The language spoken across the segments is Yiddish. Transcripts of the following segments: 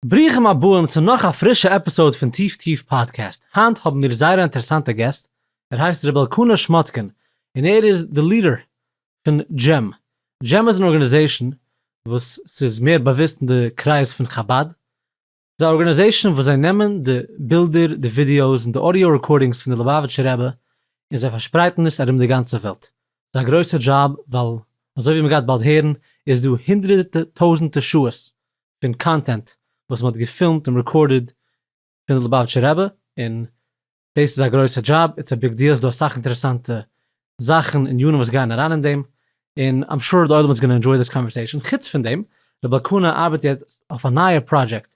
ברוכים הבאים צו נאך א פרישע עפיסאוד פון טיף טיף פאדקעסט, היינט האבן מיר זייער א אינטערעסאנטע געסט, ער הייסט ר' אלקנה שמאטקין, און ער איז די ליעדער פון דזשעם, דזשעם איז אן ארגאניזעישאן וואס ס'איז מער באוויסט אין די קרייז פון חבד, ס'איז א ארגאניזעישאן וואס זיי נעמען די בילדער, די ווידיאוס און די אודיאו רעקארדינגס פון די לובאוויטשער רבי און זיי פארשפרייטן עס ארום די גאנצע וועלט, ס'איז א גרויסע דזשאב ווייל אזוי ווי מ'גייט באלד הערן איז דא הונדרעטע טויזענטע שעות פון קאנטענט וואס מ'האט געפילמט און רעקארדעד פון די ליבאוויטשער רבי, און דאס איז א גרויסע דזשאב, איטס א ביג דיעל, ס'דא אסאך אינטערעסאנטע זאכן, ענינים וואס גייען אריין אין דעם, און איים שור די עולם איז גאנא ענדזשוי דיס קאנווערסעישאן, חוץ פון דעם, רבי אלקנה ארבעט יעצט אויף א נייע פראדזשעקט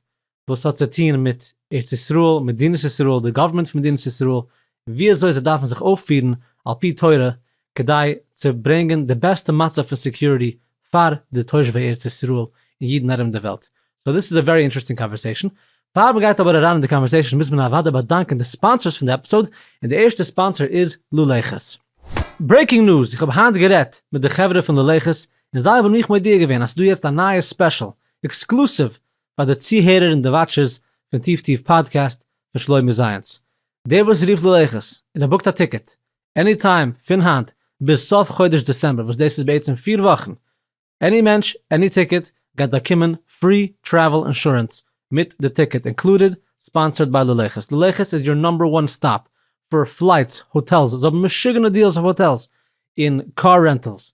וואס האט צו טוהן מיט ארץ ישראל, מדינת ישראל, די גאווערמענט פון מדינת ישראל, און ווי אזוי זיי דארפן זיך אויפפירן על פי תורה כדי צו ברענגען די בעסטע מצב פון סעקיוריטי פאר די תושבי ארץ ישראל און אידן ארום די וועלט. סאו דיס איז א ווערי אינטערעסטינג קאנווערסעישן. פאר מען גייט אבער אריין אין די קאנווערסעישן מוז מען אוודאי באדאנקען די ספאנסערס פון די עפיסאוד, און די ערשטע ספאנסער איז לולי ח'ס. ברעיקינג ניוז, איך האב היינט גערעדט מיט די חברה פון לולי ח'ס און זיי האבן מיך מודיע געווען אז ס'דא יעצט א נייע ספעשל, עקסקלוסיוו פאר די צוהערער און די וואטשערס פון טיף טיף פאדקעסט פון שלומי זייענץ. דער וואס רופט לולי ח'ס און ער בוקט א טיקעט עני טיים פון היינט ביז סוף חודש דעצעמבער וואס דאס איז בעצם פֿיר וואכן, עני מענטש עני טיקעט גייט באקומען פרי טרעוול אינשורענס מיט די טיקעט אינקלודעד, ספאנסערד ביי ללכת, ללכת איז יור נאמבער וואן סטאפ פאר פלייטס, האטעלס, זיי האבן משוגענע דיעלס אויף האטעלס און קאר רענטעלס,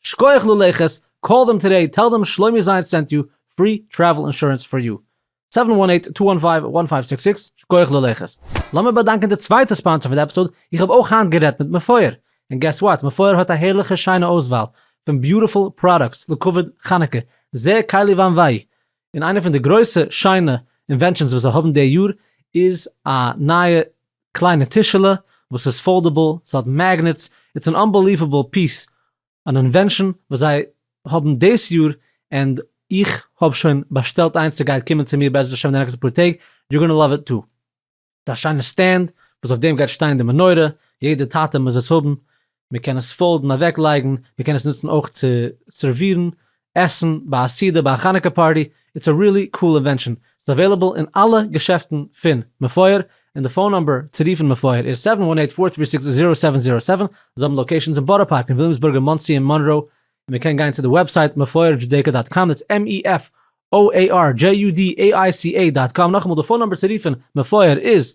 שקויעך ללכת, קאל דעם טערעי טעל דעם שלומי זיינט סענט יו, פרי טרעוול אינשורענס פאר יו. סעווען וואן עיט טו וואן פייוו וואן פייוו סיקס סיקס שקויעך ללכת. לאמיר באדאנקען די צווייטע ספאנסער פון די עפיסאד, איך האב אויך היינט גערעדט מיט מפואר, און געס וואט, מפואר האט א הערליכע שיינע אויסוואל פון ביוטיפול פראדוקטס לכבוד חנוכה, זע קיילי וויין וויי, און איינע פון די גרויסע שיינע אינווענשאנס וואס זיי האבן די יאר איז א נייע קליינע טישעלע וואס איז פאלדעבל, עס האט מעגנעטס, איטס אן אנבעליוועבל פיס, אן אינווענשאן וואס זיי האבן דאס יאר, ענד איך האב שוין באשטעלט איינס סע גייט קומען צו מיר בעזרת השם די נעקסטע פאר טעג, יור גאנא לאוו איט טו. ס'איז א שיינע סטענד וואס אויף דעם גייט שטיין די מנורה, יעדע טאטע מוז עס האבן, מען קען עס פאלדן אוועק לייגן, מען קען עס נוצן אויך צו סערווירן עסן ביי א סעודה ביי א חנוכה פארטי, איטס א רילי קאל אינווענשאן, ס'איז עוועילעבל אין אלע געשעפטן פון מפואר, און די פאון נומבער צו רופן מפואר איז זיבן וואן אייט פאר טרי סיקס זירא סעווען זירא סעווען, זיי האבן לאקעישאנס אין בארא פארק אין וויליאמסבורג אין מאנסי אין מאנרא, און מען קען גיין צו די וועבסייט מפואר דזשודעיקא דאט קאם דאטס עם אי עף או עי אר דזשי יו די עי איי סי עי דאט קאם, נאכאמאל די פאון נומבער צו רופן מפואר איז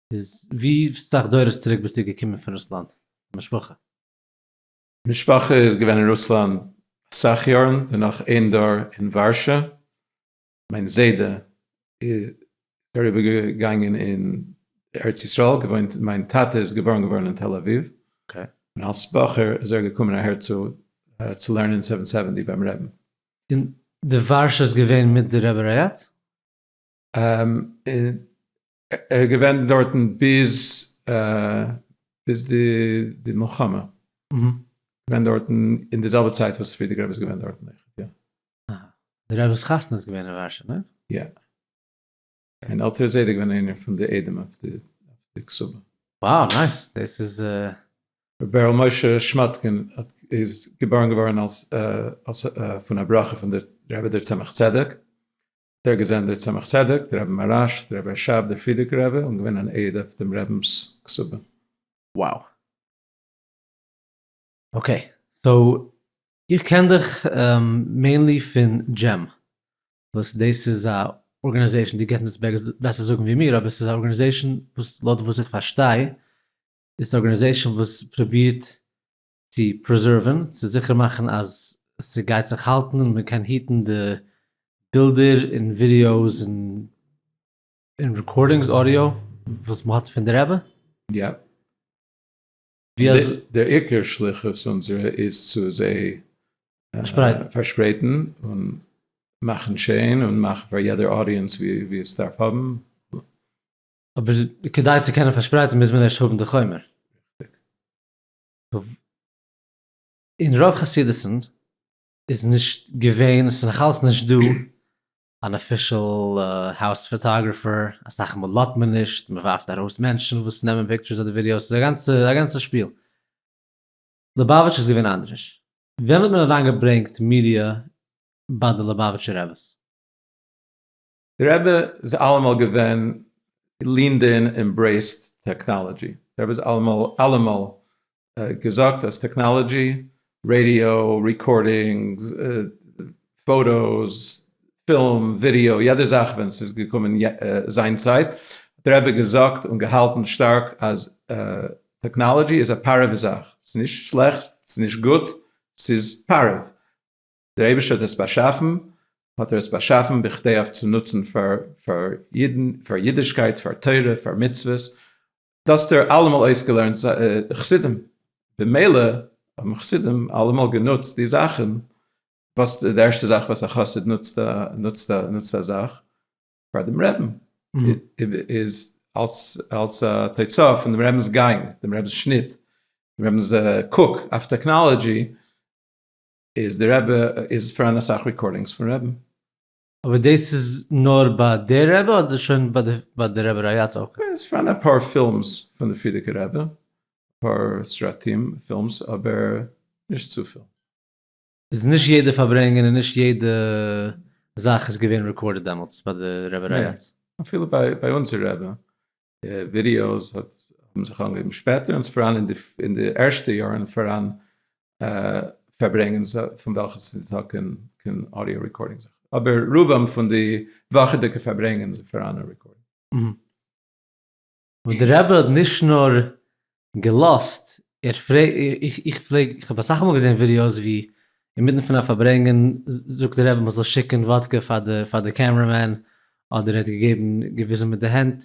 איז ווי סאך דורות צוריק ביסטו געקומען פון רוסלאנד משפחה? משפחה איז געווען אין רוסלאנד אסאך יארן, דערנאך איין דור אין ווארשע, מיין זיידע איז אריבער געגאנגען אין ארץ ישראל געוואוינט, מיין טאטע איז געבארן געווארן אין תל אביב, און אלס בחור איז ער געקומען אהער צו צו לערנען סעווען סעווענטי ביים רעבן. און די ווארשע איז געווען מיט די רבי ר' יעקב? ער איז געווען דארטן ביז ביז די די מלחמה, געווען דארטן אין די זעלבע צייט וואס פרידיגער רבי איז געווען דארטן אויכעט יא. אהא, די רב'ס חתונה איז געווען אין ווארשע ניין? יא, מיין עלטערע זיידע איז געווען איינער פון די עדים אויף די אויף די קסובה. וואו נייס, דאס איז. ר' בערל משה שמאטקין איז געבארן געווארן אלס אלס פון א ברכה פון די רבי דער צמח צדק, דער געזען דער צמח צדק, דער רבי מהרש, דער רבי רשב, דער פרידיגער רבי, און געווען אן עד אויף דעם רבינ'ס כסבה. Wow. אקעי, סאו איך קען דיך מעינלי פון דזשים, וואס דאס איז א ארגענעזעישן, דו קענסט עס בעסער זאגן ווי מיר, אבער עס איז א ארגענעזעישן וואס לויט וואס איך פארשטיי איז עס א ארגענעזעישן וואס פרובירט צו פרעזערווען, צו זיכער מאכן אז ס'גייט זיך האלטן און מ'קען היטן די בילדער און ווידיאוס און און רעקארדינגס, אודיאו, וואס מ'האט פון די רבי. יעפ. ווי אזוי? דער עיקר שליחות אונזערע איז צו זיי פארשפרייטן. פארשפרייטן און מאכן שיין און מאכן פאר יעדער אודיענס ווי עס דארף האבן. אבער כדי צו קענען פארשפרייטן מוז מען ערשט האבן די חומר. אין רוב חסידות'ן איז נישט געווען, עס איז נאך אלץ נישט דא, אן אפישעל האוז פאטאגרעפער, אסאך מאל לאזט מען נישט, מען ווארפט ארויס מענטשן וואס נעמען פיקטשערס אדער ווידיאוס, עס איז א גאנצע א גאנצע שפיל. ליובאוויטש איז געווען אנדרעש. ווען האט מען אריינגעברענגט מידיע ביי די ליובאוויטשע רביס? די רבי איז אלעמאל געווען לינד אין עמברעיסט טעקנאלעדזשי, די רבי האט אלעמאל געזאגט אז טעקנאלעדזשי, רעדיא, ריקארדינגס, פאטאס, פילם, ווידעא, יעדע זאך ווען ס'איז געקומען זיין צייט האט די רבי געזאגט און געהאלטן שטארק אז טעקנאלעדזשי איז א פארעווע זאך, ס'איז נישט שלעכט, ס'איז נישט גוט, ס'איז פארעוו. דער אייבערשטער האט עס באשאפן, האט ער עס באשאפן בכדי אויף צו נוצן פאר פאר אידן, פאר אידישקייט, פאר תורה, פאר מצוות, דאס האט ער אלעמאל אויסגעלערנט זיינע חסידים, במילא האבן חסידים אלעמאל גענוצט די זאכן, וואס די ערשטע זאך וואס א חסיד נוצט א נוצט א נוצט א זאך פאר דעם רעבן, איז אלס אלס א תוצאה פון דעם רעבנ'ס גאנג, דעם רעבנ'ס שניט, דעם רעבנ'ס קוק אויף טעקנאלעדזשי, איז די רבי איז פאראן אסאך ריקארדינגס פון רעבן? אבער דאס איז נאר ביי די רבי אדער שוין ביי די רבי רייאץ אויך? ס'איז פאראן אפאר פילמס פון די פרידיגע רבי, אפאר סרטים פילמס אבער נישט צופיל. איז נישט יעדע פארברענג און נישט יעדע זאך איז געווען רעקארדעד דעמאלטס ביי די רבי רייאץ? ניין, אפילו ביי אונזער רבי די ווידעאס האט האבן זיך אנגעהויבן שפעטער און ס'פאראן אין די ערשטע יארן פאראן פארברענגען פון וועלכע ס'איז דא קיין אודיאו רעקארדינג זיכער אבער רובם פון די וואכעדיגע פארברענגען איז פאראן א רעקארדינג. אבער די רבי האט נישט נאר געלאזט, ער פרעגט, איך פלעג, איך האב אסאך מאל געזען ווידיאוס ווי אינמיטן פון א פארברענגען זאגט דער רבי מען זאל שיקן וואדקע פאר די פאר די קעמרע מען, אדער ער האט געגעבן געוויזן מיט די הענט,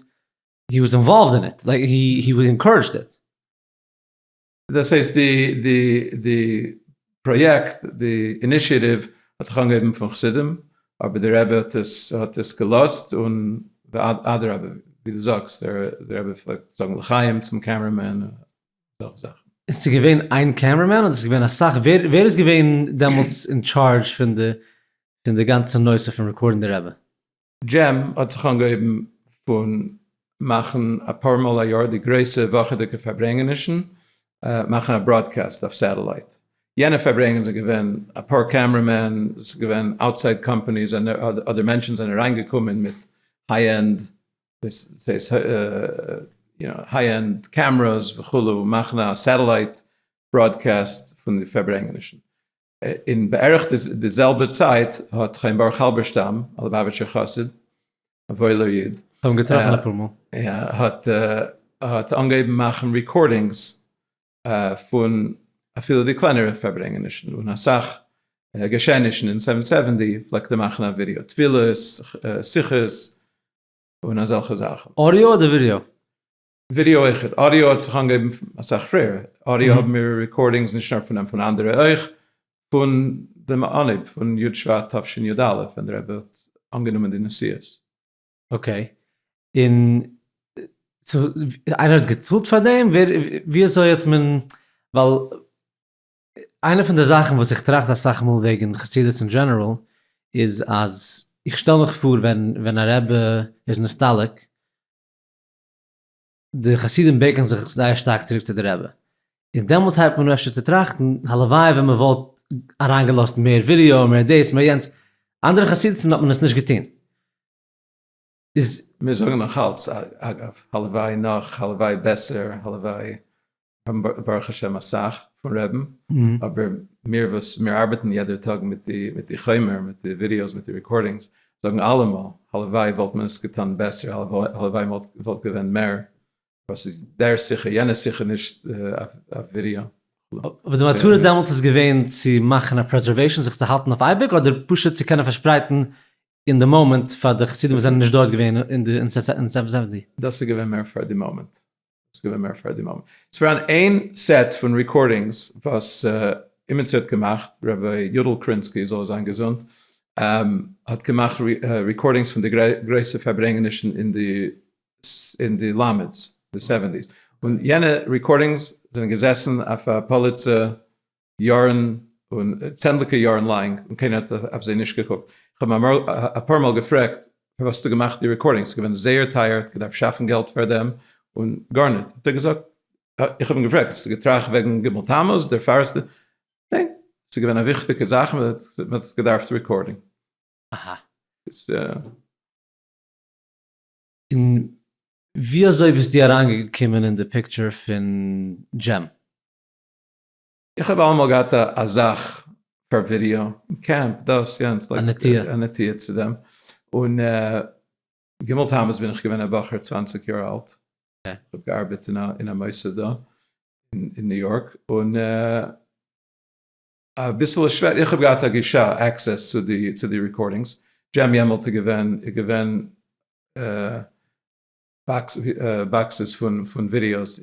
הי וואס אינוואלווד אין איט, לייק הי וואלד אינקארעדזשד איט. דאס הייסט די די די פראיעקט, די אינישיעטיוו האט זיך אנגעהויבן פון חסידים, אבער דער רבי האט עס געלאזט, און אדרבה, ווי דו זאגסט, דער רבי פלעגט זאגן לחיים צום קעמרע מען, און אזעלכע זאכן. איז צו געווען איין קעמרע מען, אדער איז געווען אסאך? ווער איז געווען דעמאלטס אין טשארדזש פון די גאנצע נושא פון רעקארדן די רבי? דזשים האט זיך אנגעהויבן פון מאכן אפאר מאל א יאר די גרויסע וואכעדיגע פארברענגענישן, מאכן א בראדקעסט אויף סעטעלייט, יענע פארברענגען זענען געווען אפאר קעמרע מען, עס איז געווען אוטסייד קאמפאניס אדער מענטשן זענען אריינגעקומען מיט היי ענד היי ענד קעמרעס וכו' מאכן א סעטעלייט בראדקעסט פון די פארברענגענישן, אין בערך די זעלבע צייט האט חיים ברוך האלבערשטאם, א ליבאוויטשער חסיד, א וואוילער איד, האט אנגעהויבן מאכן רעקארדינגס פון אפילו די קלענערע פארברענגענישן, און אסאך געשעענישן אין סעווען סעווענטי פלעגט ער מאכן א ווידעא, תפילות, שיחות, און אזעלכע זאכן. אודיאו אדער ווידעא? ווידעא אויך, אודיאו האט זיך אנגעהויבן אסאך פריער, אודיאו האבן מיר רעקארדינגס נישט נאר פון אים, פון אנדערע אויך, פון דעם אנהייב פון י' שבט תשנ י א ווען דער רבי האט אנגענומען די נשיאות. אקעי, און סאו איינער האט געצאלט פאר דעם? ווער, ווי אזוי האט מען, ווייל איינע פון די זאכן וואס איך טראכט אסאך מאל וועגן חסידות אין דזשענעראל איז אז איך שטעל מיך פאר ווען ווען א רבי איז נסתלק, די חסידים בענקען זיך זייער שטארק צוריק צו די רבי, און דעמאלטס הייבט מען אן אפשר צו טראכטן, הלוואי ווען מען וואלט אריינגעלאזט מער ווידעא, מער דאס, מער יענץ, אנדערע חסידות'ן האט מען עס נישט געטון. איז. מיר זאגן נאכאלץ, אגב, הלוואי נאך, הלוואי בעסער, הלוואי האבן ברוך השם אסאך פון רעבן, אבער מיר וואס מיר ארבעטן יעדער טאג מיט די מיט די חומר מיט די ווידיאוס מיט די רעקארדינגס, זאגן אלעמאל הלוואי וואלט מען עס געטון בעסער, הלוואי מען וואלט געווען מער, וואס איז דער שיחה יענע שיחה נישט אויף ווידיאו. אבער די מטרה דעמאלטס איז געווען צו מאכן א פרעזערוועישאן זיך צו האלטן אויף אייביג אדער פשוט צו קענען פארשפרייטן אין די מאמענט פאר די חסידים וואס זענען נישט דארט געווען אין סעווען סעווענטי? דאס איז געווען מער פאר די מאמענט. וואס איז געווען מער פאר די מאמע? ס'איז פאראן איין סעט פון ריקארדינגס וואס אימיצער האט געמאכט, ר' יודל קרינסקי זאל ער זיין געזונט, האט געמאכט ריקארדינגס פון די גרויסע פארברענגענישן אין די אין די למד'ס, די סעווענטיס, און יענע ריקארדינגס זענען געזעסן אויף א פאליצע יארן און צענדליגע יארן לאנג און קיינער האט אויף זיי נישט געקוקט, איך האב אים אפאר מאל געפרעגט פארוואס האסטו געמאכט די רעקארדינגס, ס'איז געווען זייער טייער, האט געדארפט שאפן געלט פאר דעם און גארניט האט ער געזאגט, איך האב אים געפרעגט האסטו געטראכט וועגן ג' תמוז דערפאר האסטו, ניין, ס'איז געווען א וויכטיגע זאך מען האט עס געדארפט רעקארדען. אהא. און ווי אזוי ביסטו אריינגעקומען אין די פיקטשער פון דזשים? איך האב אלעמאל געהאט א זאך פאר ווידעא, קעמפ, דאס יענץ, א נטיה צו דעם, און ג' תמוז בין איך געווען א בחור צוואַנציק יאר אלט, איך האב געארבעט אין א מוסד דא אין ניו יארק, און אביסעלע שווער, איך האב געהאט א גישה, עקסעס, צו די רעקארדינגס, דזשים יעמעלט איז געווען באקסעס פון ווידיאוס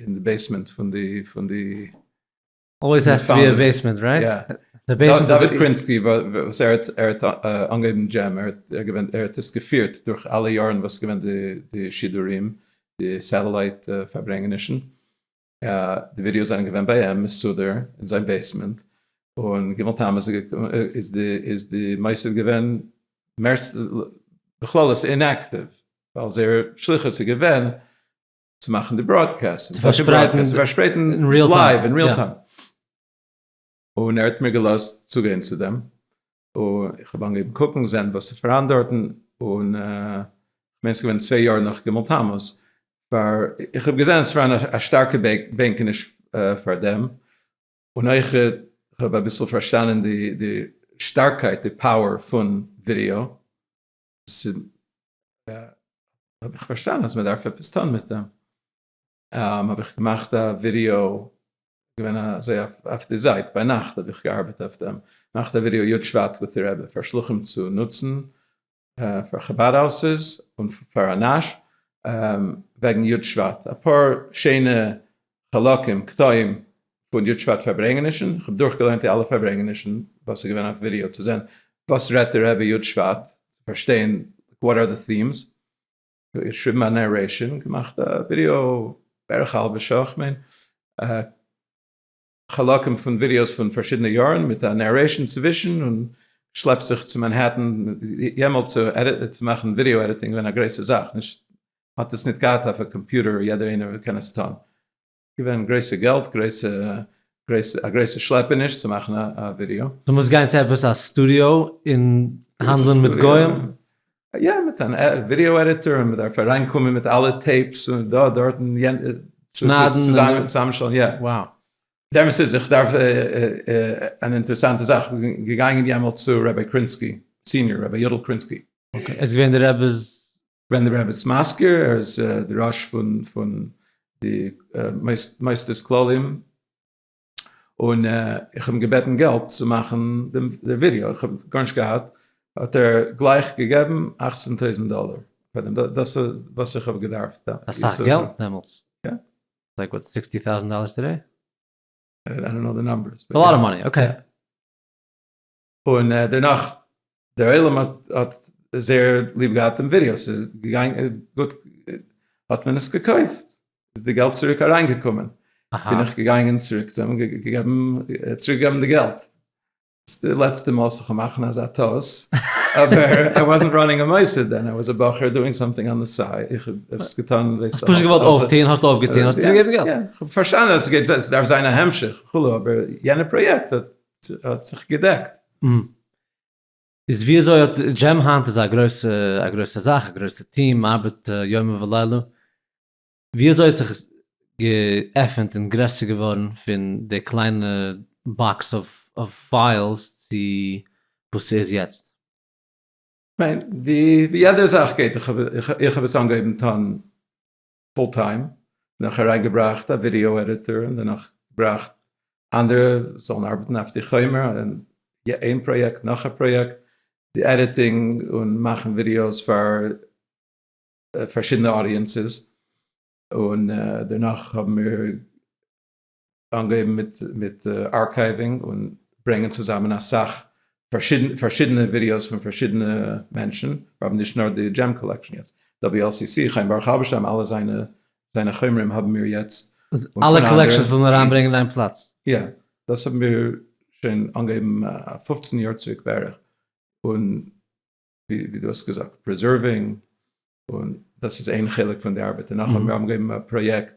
אין די בעיסמענט פון די פון די. אלוועיס האס טו בי א בעיסמענט רייט? יא. דוד קרינסקי וואס ער האט ער האט אנגעהויבן דזשעם ער האט געווען ער האט עס געפירט דורך אלע יארן וואס געווען די שידורים די סעטעלייט פארברענגענישן. די ווידיאוס זענען געווען ביי אים מסודר אין זיין בעיסמענט, און ג' תמוז איז די מוסד געווען בכללות אינעקטיוו, ווייל זייער שליחות איז געווען צו מאכן די בראדקעסט, צו פארשפרייטן לייוו אין ריעל טיים. און ער האט מיר געלאזט צוגיין צו דעם, און איך האב אנגעהויבן קוקן זען וואס איז פאראן דארטן, און כ'מיין ס'איז געווען צוויי יאר נאך ג' תמוז, פאר איך האב געזען עס פאראן א שטארקע בענקעניש פאר דעם, און אויך כ'האב אביסל פארשטאנען די די שטארקייט די פאוער פון ווידעא, האב איך פארשטאנען אז מ'דארף עפעס טון מיט דעם. האב איך געמאכט א ווידיאו, געווען אזוי אויף די זייט ביינאכט האב איך געארבעט אויף דעם, געמאכט א ווידיאו יו ט שבט וויט די רעבע פאר שלוחים צו נוצן פאר חבד האוסעס און פאר אנאש וועגן יו ט שבט, אפאר שיינע חלקים קטעים פון יו ט שבט פארברענגענישן, איך האב דורך געליינט די אלע פארברענגענישן וואס איז געווען אויף ווידיאו צו זען וואס רעדט די רעבע יו ט שבט, צו פארשטיין וואט אר די טיעמס. איך שריבן א נערעישאן, געמאכט א ווידיאו בערך א האלבע שעה איך מיין, חלקים פון ווידיאוס פון פארשידענע יארן מיט א נערעישאן צווישן, און שלעפ זיך צו מאנהעטן, יעמאלט צו מאכן ווידיאו עדיטינג געווען א גרויסע זאך, נישט, האט עס נישט געהאט אויף א קאמפיוטער יעדער איינער קען עס טון. געווען גרויסע געלט גרויסע גרויסע א גרויסע שלעפעניש צו מאכן א א ווידיאו. דו מוזט גיין צו עפעס א סטודיאו און האנדלען מיט גוים? יא מיט אן ווידיאו עדיטאר און מ'דארף אריין קומען מיט אלע טעיפס און דא דארט און יענע צוזאמען צוזאמשטעלן יא. וואו. די אמת איז איך דארף אן אינטערעסאנטע זאך געגאנגען יעמאלט צו רבי קרינסקי סיניער רבי יודל קרינסקי. און? איז געווען די רעבעס ווען די רבי איז מזכיר ער איז די ראש פון פון די מוסדות כלליים, און איך האב אים געבעטן געלט צו מאכן די ווידעא, איך האב גארנישט געהאט, האט ער גלייך געגעבן אַכצן טויזנט דאלער, דאס איז וואס איך האב געדארפט דאן. אסאך געלט דעמאלטס. יא. לייק וואטס סיקסטי טאוזענט דאלערס טודעי? איי דאנט קנאו די נאמבערס. ס'איז א לאט אוו מאני, אקעי. און דערנאך דער עולם האט זייער ליב געהאט דעם ווידעא, ס'איז געגאנגען גוט, האט מען עס געקויפט, איז די געלט צוריק אריין געקומען, בין איך געגאנגען צוריק צו אים געגעבן, צוריק געבן די געלט, ס'איז די לעצטע מאל ס'זאל זיך מאכן אזא טעות, אבער איי וואזנט ראנינג א מוסד דען, איי וואזס א בחור דואינג סאמטינג אן די סייד, איך האב עס געטון, האסט פשוט געוואלט אויפטון, האסט אויפגעטון, האסט צוריק געגעבן די געלט. יא, יא, כ'האב פארשטאנען אז ס'גייט, ס'דארף זיין א המשך וכו', אבער יענע פראיעקט האט. האט זיך געדעקט. איז וויאזוי האט דזשים היינט איז א גרויסע א גרויסע זאך א גרויסע טיעם ארבעט יומם ולילה וויאזוי האט זיך עס געעפענט און גרעסער געווארן פון די קליינע באקס אוו פיילס צו וואס ס'איז יעצט? כ'מיין ווי יעדער זאך גייט איך האב עס אנגעהויבן טון פול טיים, נאך אריין געבראכט א ווידיאו עדיטער און דערנאך געבראכט אנדערע זאלן ארבעטן אויף די חומר, איין פראיעקט נאך א פראיעקט, די עדיטינג און מאכן ווידיאוס פאר פארשידענע אודיענסעס, און דערנאך האבן מיר אנגעהויבן מיט מיט ארקייווינג און ברענגען צוזאמען אסאך פארשידענע ווידיאוס פון פארשידענע מענטשן, מיר האבן נישט נאר די דזשעם קאלעקשן יעצט, WLCC, חיים ברוך האלבערשטאם, אלע זיינע זיינע חומרים האבן מיר יעצט. אלע קאלעקשנס וויל מען אריינברענגען אין איין פלאץ. יא, דאס האבן מיר שוין אנגעהויבן פֿופֿצן יאר צוריק בערך, און ווי דו האסט געזאגט פרעזערווען, און דאס איז איין חלק פון די ארבעט, און נאכדעם האבן מיר געגעבן א פראיעקט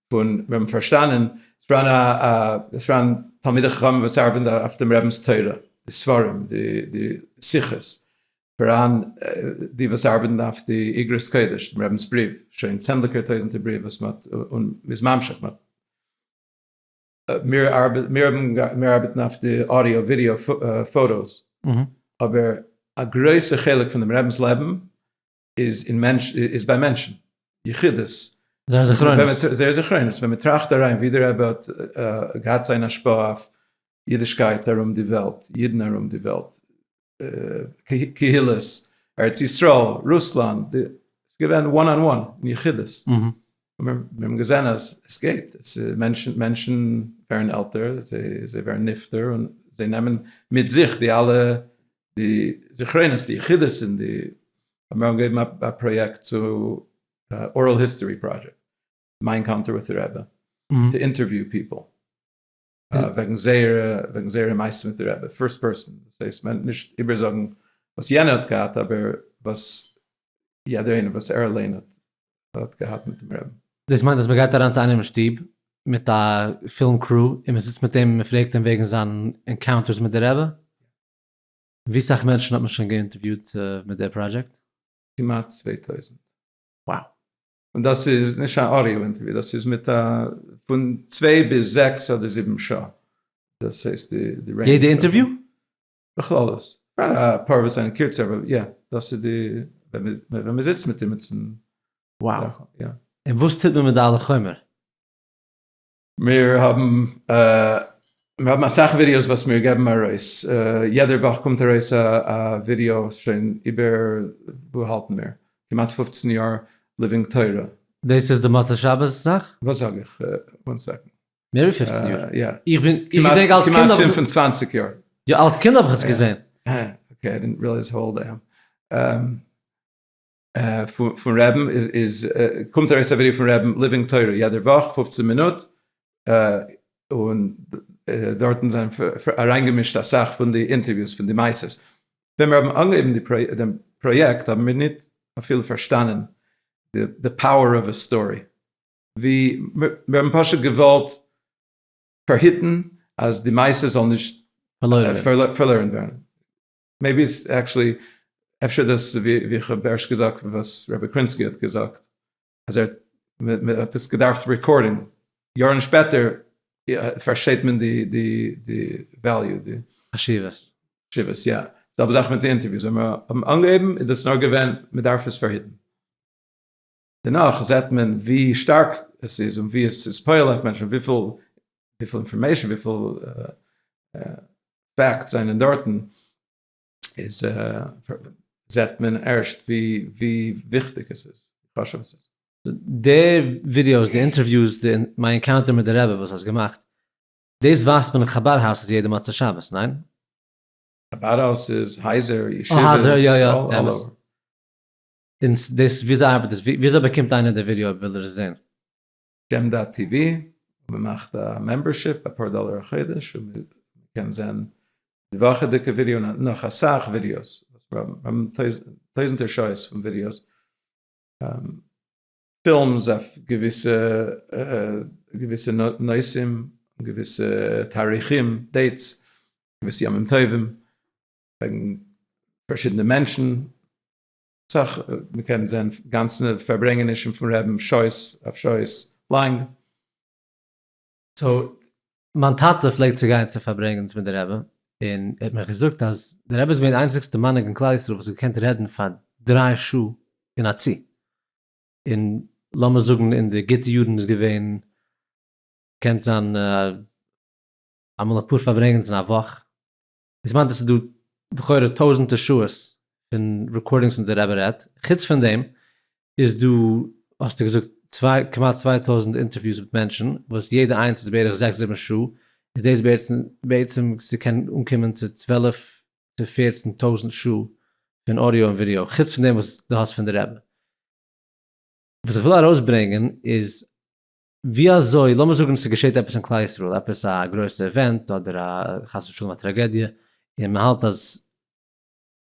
פון, מיר האבן פארשטאנען, עס פאראן א, עס פאראן תלמידי חכמים וואס ארבעטן אויף דעם רבינ'ס תורה, די ספרים, די שיחות, פאראן די וואס ארבעטן אויף די אגרות קודש, דעם רבינ'ס בריוו, שוין צענדליגער טויזנטער בריוו וואס מען האט, און מ'איז ממשיך, מיר ארבעטן אויף די אודיאו ווידיאו פאטאס, אבער א גרויסע חלק פון דעם רבינ'ס לעבן איז ביי מענטשן, יחידות, זייער זכרונות, ווען מען טראכט אריין ווי דער רבי האט געהאט זיין השפעה אויף אידישקייט ארום די וועלט, אידן ארום די וועלט, קהילות, ארץ ישראל, רוסלאנד, עס איז געווען וואן אן וואן, אין יחידות. מיר האבן געזען אז עס גייט, מענטשן ווערן עלטער, זיי ווערן נפטר, און זיי נעמען מיט זיך די אלע זכרונות, די יחידות, און די, האט מיר אנגעגעבן א פראיעקט צו, אורעל היסטארי פראדזשעקט, מיין קאנטער וויט די רעבע, טו אינטערוויו פיפל. וועגן זייערע וועגן זייערע מעשים מיט די רבי פירסט פערסאן דאס הייסט מען נישט איבער זאגן וואס יענער האט געהאט אבער וואס יעדער איינער וואס ער אליין האט האט געהאט מיט דעם רבי. דאס מיינט אז מען גייט אריין צו איינעם אין שטוב מיט א פילם קרו און מען זיצט מיט אים און מען פרעגט אים וועגן זיין ענקאונטערס מיט די רבי? ווי סאך מענטשן האט מען שוין געאינטערוויוט מיט די פראדזשעקט? כמעט צוויי טויזנט. Wow. און דאס איז נישט א אודיאו אינטערוויא, דאס איז מיט א פון צוויי ביז זעקס אדער זיבן שעה. דאס הייסט די רעינדזש. יעדע אינטערוויא? בכללות. אפאר וואס זענען קורצער, אבער יא, דאס איז די ווען מען זיצט מיט אים אינמיטן. וואו. און וואס טוט מען מיט די אלע חומר? מיר האבן מיר האבן אסאך ווידיאוס וואס מיר געבן ארויס, יעדער וואך קומט ארויס א ווידיאו שוין איבער וואו האלטן מיר, כמעט פופצן יאר ליווינג תורה. דאס איז די מוצאי שבת זאך? וואס זאג איך? וואן סעקאנד. מער ווי פופצן יאר? יא. איך בין, איך געדענק אלס קינד האב איך. כמעט פינף און צוואנציג יאר. יא, אלס קינד האב איך עס געזען. אקעי, איי דינט רעליעז האו אולד איי עם. פון רעבן איז קומט ארויס א ווידיא פון רעבן ליווינג תורה יעדער וואך פֿופֿצן מינוט און דארטן זענען אריינגעמישט אסאך פון די אינטערוויוס פון די מעשות, ווען מיר האבן אנגעהויבן די פראיעקט האבן מיר נישט אפילו פארשטאנען די פאוער אוו א סטארי, ווי מיר האבן פשוט געוואלט פארהיטן אז די מעשות זאל נישט פארלוירן ווערן. מעיבי איז עקטשעלי אפשר דאס ווי איך האב ערשט געזאגט וואס רבי קרינסקי האט געזאגט אז ער האט עס געדארפט רעקארדען יארן שפעטער פארשטייט מען די די די וועליו די חשיבות חשיבות יא זעלבע זאך מיט די אינטערוויוס ווען מיר האבן אנגעהויבן איז דאס נאר געווען מען דארף עס פארהיטן. דערנאך זעט מען ווי שטארק עס איז און ווי עס איז פועל אויף מענטשן, וויפיל אינפארמעישן, וויפיל פעקטס זענען דארטן, איז זעט מען ערשט ווי וויכטיג עס איז, ווי חשוב עס איז. די ווידיאוס, די אינטערוויוס, מיין ענקאונטער מיט די רבי וואס האסט געמאכט, דאס ווייזט מען אין חבד האוס איז יעדע מוצאי שבת, ניין? חבד האוס איז הייזער, ישיבות, אלל אווער. און דאס וויאזוי ארבעט דאס? וויאזוי באקומט איינער די ווידעא אויב וויל ער עס זען? געמ דאט טי ווי, מען מאכט א מעמבערשיפ, אפאר דאלער א חודש, און מען קען זען די וואכעדיגע ווידעא און נאך אסאך ווידעאס, מיר האבן טויזנטער שעות פון ווידעאס, פילמס אויף געוויסע געוויסע נושאים, געוויסע תאריכים, דעיטס, געוויסע ימים טובים, וועגן פארשידענע מענטשן, סך מ'קען זען גאנצענע פארברענגענישן פון רעבן שעות אויף שעות לאנג. סאו מיין טאטע פלעגט צו גיין צו פארברענגענס מיט די רעבן און ער האט מיך געזאגט אז די רעבע איז געווען די איינציגסטע מנהיג אין כלל ישראל וואס האט געקענט רעדן פאר דריי שעה אין א צי און לאמיר זאגן אין די גוטע יארן איז געווען קען זיין אמאל אפאר פארברענגענס אין א וואך. דאס מיינט אז ס'איז דא לכאורה טויזענטער שעות פון רעקארדינגס וואס די רבי רעדט, חוץ פון דעם איז דא האסטו געזאגט צוויי כמעט צוויי טויזענט אינטערוויוס מיט מענטשן וואס יעדע איינס איז בערך זעקס זיבן שעה, איז דאס בעצם ס'קען אנקומען צו צוועלף צו פערצן טויזענט שעה פון אודיאו און ווידיאו, חוץ פון דעם וואס דו האסט פון די רבי. וואס איך וויל ארויסברענגען איז ווי אזוי, לאמיר זאגן ס'געשעט עפעס אין כלל ישראל, עפעס א גרויסע עווענט אדער א חס ושלום א טראגעדיע, און מען האלט אז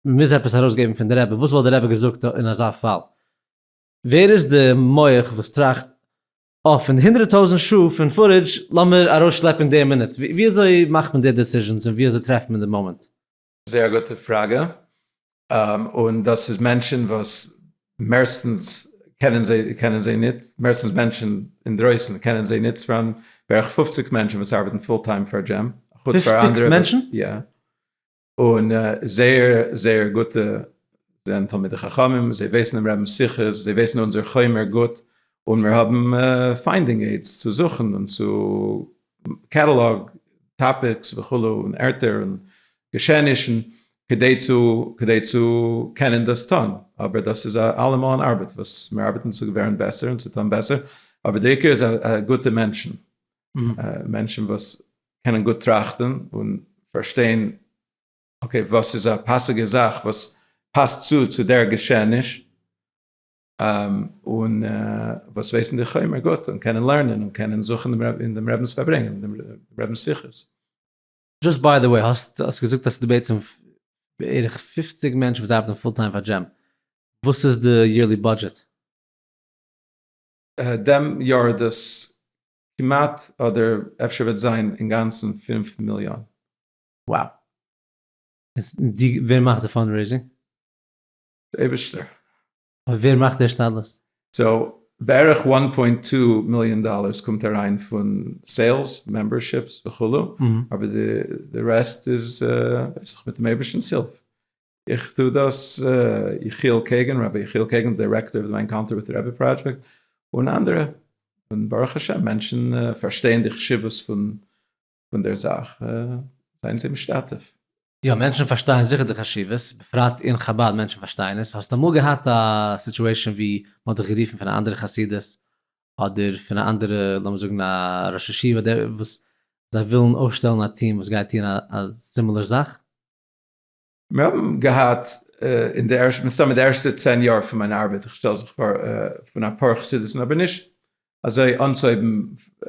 מען מוז עפעס ארויסגעבן פון די רבי, וואס וואלט די רבי געזאגט אין אזא פאל? ווער איז די מח וואס טראכט, אה, פון די הונדרעט טויזנט שעה פון פארעדזש, לאמיר ארויסשלעפן די מינוט, ווי אזוי מאכט מען די דעסיזשענס און ווי אזוי טרעפט מען די מאמענט? זייער א גוטע פראגע, און דאס איז מענטשן וואס מערסטנס קענען זיי קענען זיי ניט, מערסטנס מענטשן אינדרויסן קענען זיי ניט, ס'פאראן בערך פופציג מענטשן וואס ארבעטן פול טיים פאר דזשים, חוץ פאר אנדערע, פופציג מענטשן? יא, און זייער זייער גוטע, זיי זענען תלמידי חכמים, זיי ווייסן דעם רבינ'ס שיחות, זיי ווייסן אונזער חומר גוט, און מיר האבן פיינדינג עידס צו זוכן און צו. קעטעלאג, טאפיקס וכו' און ערטער און געשעענישן כדי צו כדי צו קענען דאס טון, אבער דאס איז א אלעמאל אן ארבעט וואס מיר ארבעטן צו ווערן בעסער און צו טון בעסער, אבער דער עיקר איז א גוטע מענטשן, מענטשן וואס קענען גוט טראכטן און פארשטיין אקעי וואס איז א פאסיגע זאך וואס פאסט צו צו דער געשעעניש, און וואס ווייסן די חומר גוט און קענען לערנען און קענען זוכן אין דעם רבינ'ס פארברענגען, דעם רבינ'ס שיחות. דזשאסט ביי די וועי, האסט געזאגט אז ס'איז דא בעצם בערך פֿופֿציק מענטשן וואס ארבעטן פול טיים פאר דזשים, וואס איז די יערלי בודזשעט? דעם יאר איז דאס כמעט אדער אפשר וועט זיין אינגאנצן פֿינף מיליאן. וואו! און ווער מאכט די פאנדרעיזינג? אייבערשטער. אבער ווער מאכט די השתדלות? סאו בערך וואן פוינט טו מיליאן דאלערס קומט אריין פון סעילס, מעמבערשיפס וכו', אבער די רעסט איז דאך מיט'ן אייבערשטנ'ס הילף. איך טו דאס, יחיאל קעגן, רבי יחיאל קעגן, דירעקטאר פון די ענקאונטער וויט רעבי פראדזשעקט, און אנדערע, און ברוך השם מענטשן פארשטייען די חשיבות פון פון דער זאך זיין זיי משתתף. יא, מענטשן פארשטייען זיכער די חשיבות, בפרט אין חבד מענטשן פארשטייען עס, האסט אמאל געהאט א סיטואשען ווי מ'האט דיך גערופן פון א אנדערע חסידות, אדער פון א אנדערע לאמיר זאגן א ראש ישיבה דער וואס זיי ווילן אויפשטעלן א טיעם וואס גייט טוען א סימילער זאך? מיר האבן געהאט אין די ערשטע, מסתמא די ערשטע צען יאר פון מיין ארבעט, איך שטעל זיך פאר, פון אפאר חסידות'ן אבער נישט אזוי אנצויבן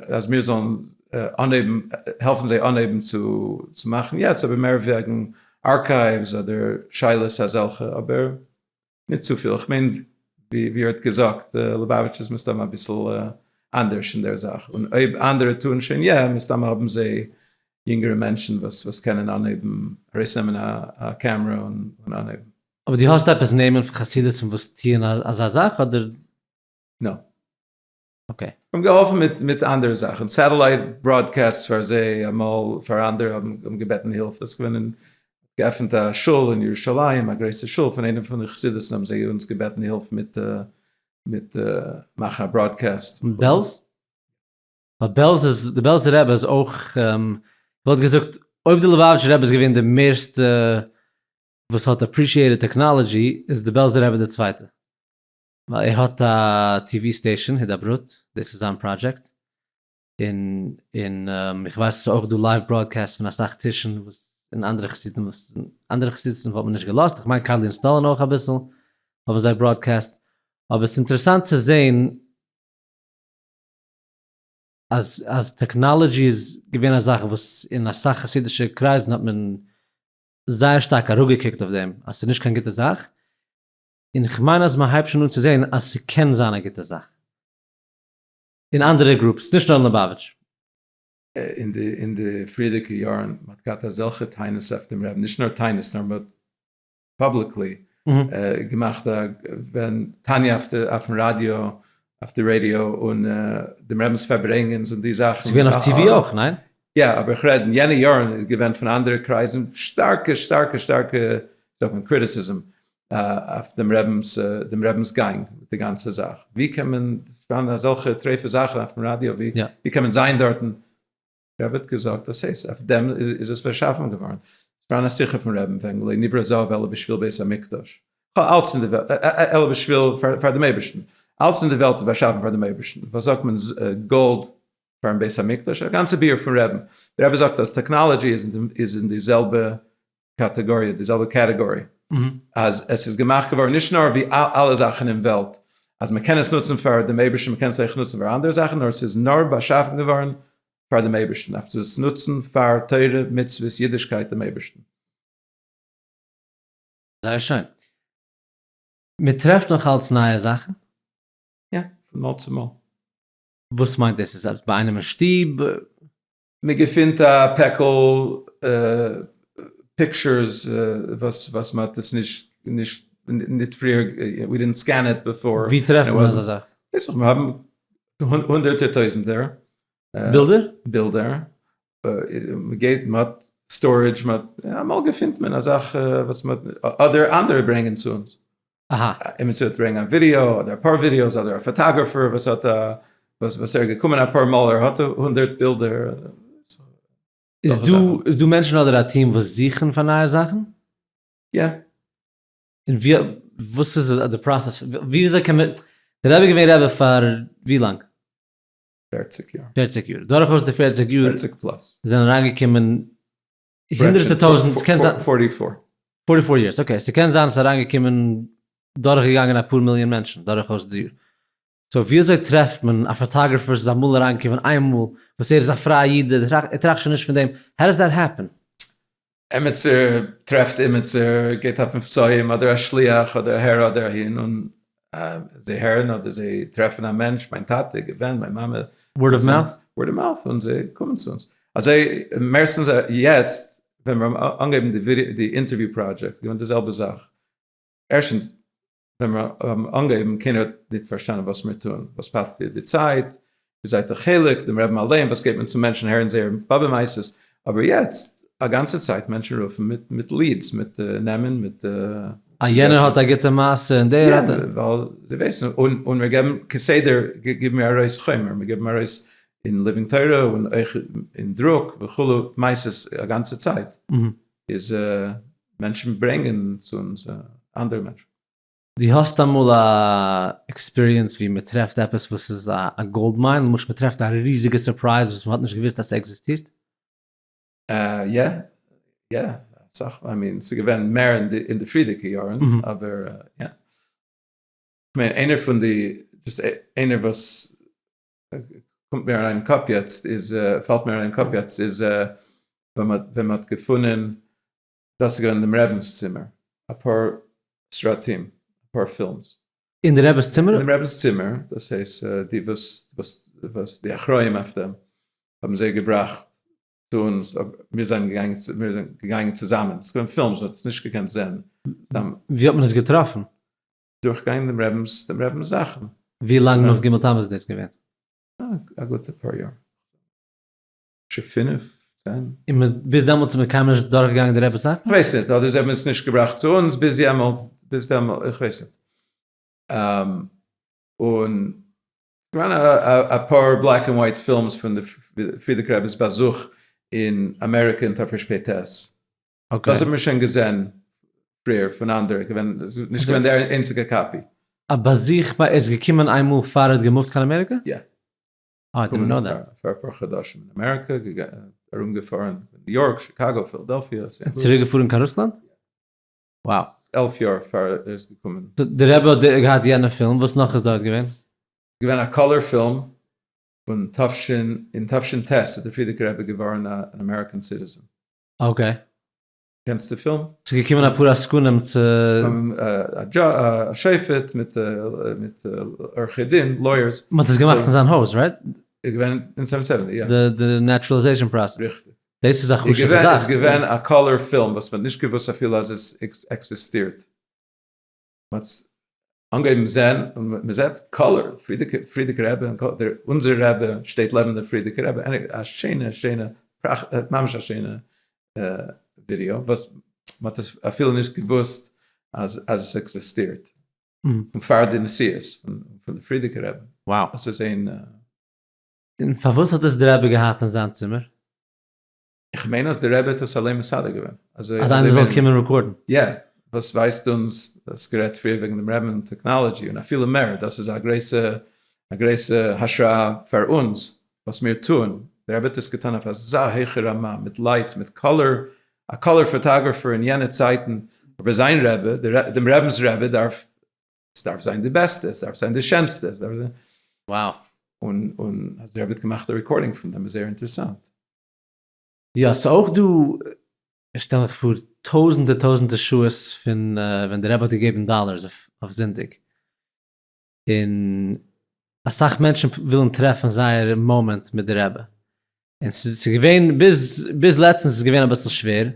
אז מיר זאלן אנהייבן העלפן זיי אנהייבן צו מאכן יעצט אבער מער וועגן ארקייווס אדער שאלות אזעלכע אבער. ניט צו פיל, איך מיין ווי ער האט געזאגט, ליובאוויטש איז מסתם אביסל אנדערש אין דער זאך, און אויב אנדערע טוען שוין יא, מסתם האבן זיי יונגערע מענטשן וואס וואס קענען אנהייבן ארויסנעמען א קעמרע און אנהייבן. אבער דו האסט עפעס נעמען פון חסידות'ן וואס טוען אזא זאך אדער? נא. אקעי. האבן געהאלפן מיט מיט אנדערע זאכן, סעטעלייט בראדקעסטס פאר זיי אמאל, פאר אנדערע האבן געבעטן הילף, דאס איז געווען אין געעפנט א שול אין ירושלים, א גרויסע שול פון איינעם פון די חסידות'ן האבן זיי אונז געבעטן הילף מיט מיט מאכן א בראדקעסט. אין בעלז? ווייל בעלז איז, די בעלזער רבי איז אויך, כ'וואלט געזאגט אויב די ליובאוויטשער רבי איז געווען די מערסטע וואס האט אפרישיעטעד טעקנאלעדזשי, איז די בעלזער רבי די צווייטע. ער האט א טי ווי סטעישאן הידברות, דאס איז זיין פראדזשעקט, און איך ווייס עס איז אויך דא לייוו בראדקעסט פון אסאך טישן וואס אין אנדערע חסידים וואס אין אנדערע חסידות'ן וואלט מען נישט געלאזט, איך מיין קארלין סטאלין אויך אביסל האבן זיי בראדקעסט, אבער עס איז אינטערעסאנט צו זעהן אז טעקנאלעדזשי איז געווען א זאך וואס אין אסאך חסידישע קרייזן האט מען זייער שטארק אראפגעקוקט אויף דעם אז עס איז נישט קיין גוטע זאך, און כ'מיין אז מ'הייבט שוין אן צו זען אז ס'קען זיין א גוטע זאך אין אנדערע גרופס, נישט נאר אין ליבאוויטש. אין די פריערדיגע יארן מ'האט געהאט אזעלכע טענות אויף דעם רעבן, נישט נאר טענות נאר מ'האט פאבליקלי געמאכט א ווען תניא אויפן ראדיא, אויף די רעדיא, און דעם רעבן'ס פארברענגענס און די זאכן. ס'געווען אויף טיווי אויך, ניין? יא, אבער איך רעד אין יענע יארן איז געווען פון אנדערע קרייזן שטארקע שטארקע שטארקע זאגט מען קריטיסיזם אויף דעם רבינ'ס דעם רבינ'ס גאנג מיט די גאנצע זאך, ווי קען מען זיין אזעלכע טריפה זאכן אויפן ראדיא, ווי קען מען זיין דארטן, דער רבי האט געזאגט דאס הייסט אויף דעם איז עס באשאפן געווארן, פאר א שיחה פון רעבן וועגן לא נברא זהב אלא בשביל בית המקדש, אלץ אין די וועלט, אלא בשביל פאר דעם אייבערשטן, אלץ אין די וועלט איז באשאפן פאר דעם אייבערשטן, וואס זאגט מען גאלד פארן בית המקדש, א גאנצע ביאור פון רעבן, דער רבי זאגט אז טעקנאלעדזשי איז אין די זעלבע קאטעגאריע, די זעלבע קעטעגארי, אז עס איז געמאכט געווארן נישט נאר ווי אלע זאכן אין וועלט, אז מען קען עס נוצן פאר דעם אייבערשטן, מען קען עס אויך נוצן פאר אנדערע זאכן, נאר עס איז נאר באשאפן געווארן פאר דעם אייבערשטן, אויף צו עס נוצן פאר תורה, מצוות, אידישקייט, דעם אייבערשטן. זייער שיין. מען טרעפט נאך אלץ נייע זאכן? יא, פון מאל צו מאל. וואס מיינט דאס? איז עפעס ביי איינעם אין שטוב? מען געפינט א פעקל פיקטשערס וואס מען האט עס נישט נישט נישט פריער ווי דידנט סקען איט בעפאר. ווי טרעפט מען אזא זאך? ווייס איך מיר האבן הונדערטער טויזענטער בילדער בילדער מען געבט מען האט סטארעדזש מען האט אמאל געפינט מען א זאך וואס מען האט אדער אנדערע ברענגען צו אונז. אהא. עמיצער וועט ברענגען א ווידיאו אדער אפאר ווידיאוס אדער א פאטאגראפער וואס האט א וואס ער איז געקומען אפאר מאל ער האט הונדערט בילדער. איז דא איז דא מענטשן אדער א טיעם וואס זוכן פאר נייע זאכן? יא. און ווי וואס איז די פראסעס ווי אזוי קען מען די רבי געווען רבי פאר ווי לאנג? פערציג יאר. פערציג יאר דורכאויס די פערציג יאר. פערציג פלאס. זענען אריינגעקומען הונדרעטע טויזענט, ס'קען זיין. פארטי פאר. פארטי פאר יערס, אקעי, ס'קען זיין ס'איז אריינגעקומען, דורכגעגאנגען אפאר מיליאן מענטשן דורכאויס די יאר. סאו וויאזוי טרעפט מען א פאטאגראפער וואס איז אמאל אריינגעקומען איין מאל, וואס ער איז א פרייע איד, ער טראכט, ער טראכט שוין נישט פון דעם, האו דאס דעט העפען? עמיצער טרעפט עמיצער, גייט אויף מבצעים, אדער א שליח, אדער אהער אדער אהין, און זיי הערן אדער זיי טרעפן א מענטש, מיין טאטע, געווען, מיין מאמע. ווארד אוו מאוט? ווארד אוו מאוט, און זיי קומען צו אונז. אזוי, מערסטנס יעצט, ווען מיר האבן אנגעהויבן די אינטערוויו פראדזשעקט, געווען די זעלבע זאך. ערשטנס, ווען מיר האבן אנגעהויבן, קיינער האט נישט פארשטאנען וואס מיר טוען, וואס פאסט דיר די צייט, זייט א חלק, דעם רעבן אליין, וואס געבט מען צו מענטשן הערן זייער באבע מעשות, אבער יעצט א גאנצע צייט מענטשן רופן מיט מיט ליעדס, מיט נעמען, מיט. אה יענער האט א גוטע מעשה און דער האט א. ווייל זיי ווייסן, און און מיר געבן כסדר גיבן מיר ארויס חומר, מיר גיבן ארויס אין ליווינג תורה און אויך אין דרוק וכו' מעשות א גאנצע צייט, איז מענטשן ברענגען צו אונז אנדערע מענטשן. דו האסט אמאל א עקספיריענס ווי מען טרעפט עפעס וואס איז א גאלד מיין, למשל מען טרעפט א ריזיגע סורפרייז וואס מען האט נישט געוויסט אז ס'עקזיסטירט? יא, יא, אסאך מאל, איי מין, ס'איז געווען מער אין די פריערדיגע יארן, אבער יא. כ'מיין איינער פון די, דאס איינער וואס קומט מיר אריין אין קאפ יעצט איז, פאלט מיר אריין אין קאפ יעצט איז, ווען מ'האט געפונען דאס איז געווען אין דעם רעבינס צימער, אפאר סרטים, אפאר פילמס. אין די רעבינס צימער? אין דעם רעבינס צימער, דאס הייסט די וואס וואס וואס די אחראים אויף דעם האבן זיי געבראכט צו אונז, מיר זענען געגאנגען צו מיר זענען געגאנגען צוזאמען, עס איז געווען פילמס מען האט עס נישט געקענט זען צוזאמען. ווי האט מען עס געטראפן? דורך גיין דעם רעבינס דעם רעבינס זאכן. ווי לאנג נאך ג' תמוז איז דאס געווען? א גוטע פאר יאר. אפשר פינף? צען? און מ'איז ביז דעמאלטס איז מען קיינמאל נישט דורכגעגאנגען די רעבעס זאכן? כ'ווייס ניט, אדער זיי האבן עס נישט געבראכט צו אונז ביז יעמאלט, ביז דעמאלט, איך ווייס ניט. און כ'מיין א פאר בלעק ענד ווייט פילמס פון די פרידיק רעבעס באזוך אין אמעריקע אין תרפש פ ת, דאס האט מען שוין געזען פריער פון אנדערע, געווען נישט געווען די איינציגע קאפי. א באזוך ביי ער איז געקומען איינמאל פאר ער האט געמופט קיין אמעריקע? יא. פאר אפאר חדשים אין אמעריקע, ארום געפארן ניו יארק, שיקאגא, פילדעלפיע, סענט לואיס. צוריק געפארן קיין רוסלאנד? wow. עלף יאר פאר ער איז געקומען. די רבי האט געהאט יענע פילם, וואס נאך איז דארט געווען? ס'איז געווען א קאלער פילם פון תשנ, אין תשנ ט איז דער פרידיגער רבי געווארן אן אמעריקען סיטיזען. אקעי. קענסט די פילם? ס'איז געקומען אפאר עסקנים צו. א שופט מיט מיט עורכי דין, לויערס. מ'האט עס געמאכט אין זיין הויז, רייט? איז געווען אין סעווען סעווענטי יא. די נעטשרעלעזעישאן פראסעס. ריכטיג. דאס איז א חשובע זאך. איז געווען א קאלער פילם וואס מ'האט נישט געוואוסט אפילו אז עס עקזיסטירט. מ'האט אנגעהויבן זען און מ'זעט קאלער, פרידיגער רבי, אונזער רבי שטייט לעבן דער פרידיגער רבי, א שיינע שיינע פראכט, ממש א שיינע ווידיאו וואס מ'האט עס אפילו נישט געוואוסט אז עס עקזיסטירט, פון פאר די נסיעות פון די פרידיגער רבי. וואו! עס איז אין. און פארוואס האט דאס דער רבי געהאט אין זיין צימער? איך מיין אז די רבי האט עס אליין מסדר געווען. אז איינער זאל קומען רעקארדן. יא, וואס ווייזט אונז אז גערעדט פריער וועגן דעם רעבן און טעקנאלעדזשי און אפילו מער, דאס איז א גרויסע א גרויסע השראה פאר אונז וואס מיר טוען, די רבי האט עס געטון אויף אזא הויכע רמה, מיט לייטס, מיט קאלער, א קאלער פאטאגראפער אין יענע צייטן, אבער זיין רבי, דעם רעבנס רבי דארף, עס דארף זיין די בעסטע, עס דארף זיין די שענסטע, עס דארף זיין. וואו. און און אז די רבי האט געמאכט א רעקארדינג פון דעם איז זייער אינטערעסאנט. יא, ס'איז אויך דא, איך שטעל מיך פאר, טויזענטער טויזענטער שעות פון ווען דער רבי האט געגעבן דאללערס אויף זונטאג, און אסאך מענטשן ווילן טרעפן זייער מאמענט מיט דער רבי, און ס'איז געווען ביז ביז לעצטנס איז געווען אביסל שווער,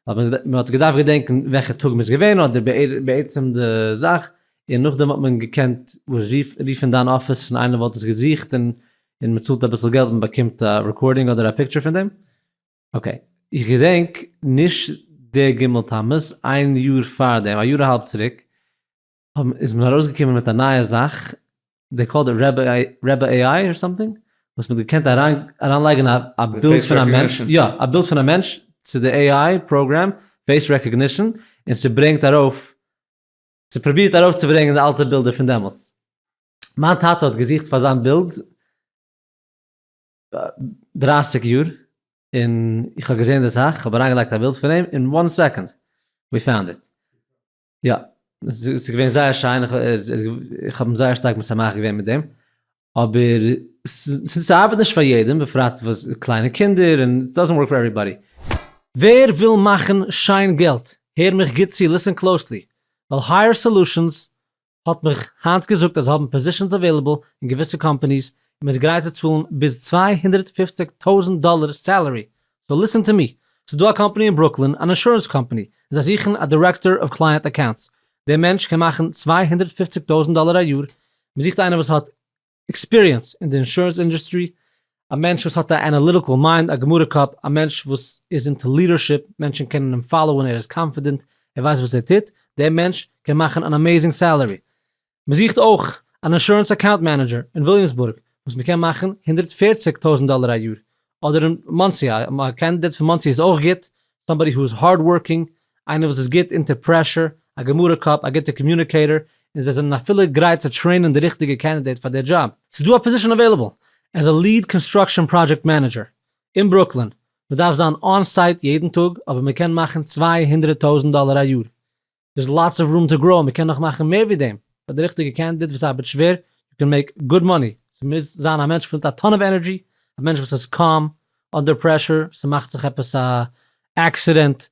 ווייל מען האט געדארפט געדענקען וועלכע טאג מען איז געווען אדער בעצם די זאך, און נאכדעם האט מען געקענט רופן דיין אפיס און איינער וואלט עס געזוכט און און מען צאלט אביסל געלט מען באקומט א רעקארדינג אדער א פיקטשער פון דעם, אקעי איך געדענק נישט די ג' תמוז, איין יאר פאר דעם, א יאר אהאלב צוריק, איז מען ארויסגעקומען מיט א נייע זאך, דעי קאלד איט רעבע עי איי אר סאמטינג, וואס מען האט געקענט אריינלייגן א א בילד פון א מענטש, יא א בילד פון א מענטש צו די עי איי פראגרעם, פעיס רעקאגנישן, און ס'ברענגט ארויף, ס'פרובירט ארויפצוברענגן די אלטע בילדער פון דעמאלטס. מיין טאטע האט געזוכט פאר זיין בילד דרײַסיק יאר, און איך האב געזען די זאך, כ'האב אריינגעלייגט א בילד פון אים, אין וואן סעקאנד ווי פאונד איט. יא, ס'איז געווען זייער שיין, איך האב אים זייער שטארק משמח געווען מיט דעם, אבער ס'ארבעט נישט פאר יעדעם, בפרט וואס קליינע קינדער, און איט דאזענט ווארק פאר עוועריבאדי. ווער וויל מאכן שיין געלט, הער מיך גוט צו, ליסען קלאוסלי, ווייל הייער סעלושענס האט מיך היינט געזאגט אז זיי האבן פאזישענס אוועילעבל אין געוויסע קאמפאניס און מ'איז גרייט צו צאלן ביז צוויי הונדערט פֿופֿציק טויזענט דאלער סעלערי, סאו ליסען טו מי, ס'איז דא א קאמפאני אין ברוקלין אן אינשורענס קאמפאני און זיי זוכן א דירעקטאר אוו קלייענט אקאונטס, דער מענטש קען מאכן צוויי הונדערט פֿופֿציק טויזענט דאלער א יאר, מ'זוכט איינער וואס האט. עקספיריענס אין די אינשורענס אינדוסטרי, א מענטש וואס האט א אנאליטיקעל מיינד, א גמרא קאפ, א מענטש וואס איז אינטו לידערשיפ, מענטשן קענען אים פאלאוען, ער איז קאנפידענט, ער ווייסט וואס ער טוט, דער מענטש קען מאכן אן אמעזינג סעלערי. מען זוכט אויך אן אינשורענס אקאונט מענעדזשער אין וויליאמסבורג וואס מען קען מאכן הונדערט פֿערציק טויזנט דאלער א יאר, אדער אין מאנסי א קענדידעט פון מאנסי איז אויך גוט, סאמבאדי הו איז הארד ווארקינג, איינער וואס איז גוט אונטער פרעשור, א גמרא קאפ, א גוטע קאמיוניקעיטאר, און זיי זענען אפילו גרייט צו טרעינען די ריכטיגע קענדידעט פאר די דזשאב. ס'איז דא א פאזישאן עוועילעבל עז א ליעד קאנסטראקשען פראדזשעקט מענעדזשער אין ברוקלין, מ'דארף זיין אן סייט יעדן טאג אבער מ'קען מאכן צוויי הונדרעט טויזענט דאלער א יאר דער'ס לאטס אוו רום טו גראו, מען קען נאך מאכן מער ווי דעם, פאר די ריכטיגע קענדידעט וואס ארבעט שווער, יו קען מעיק גוד מאני, ס'מוז זיין א מענטש מיט א טאן אוו ענערדזשי, א מענטש וואס איז קאם אנדער פרעשור, ס'מאכט זיך עפעס א עקסידענט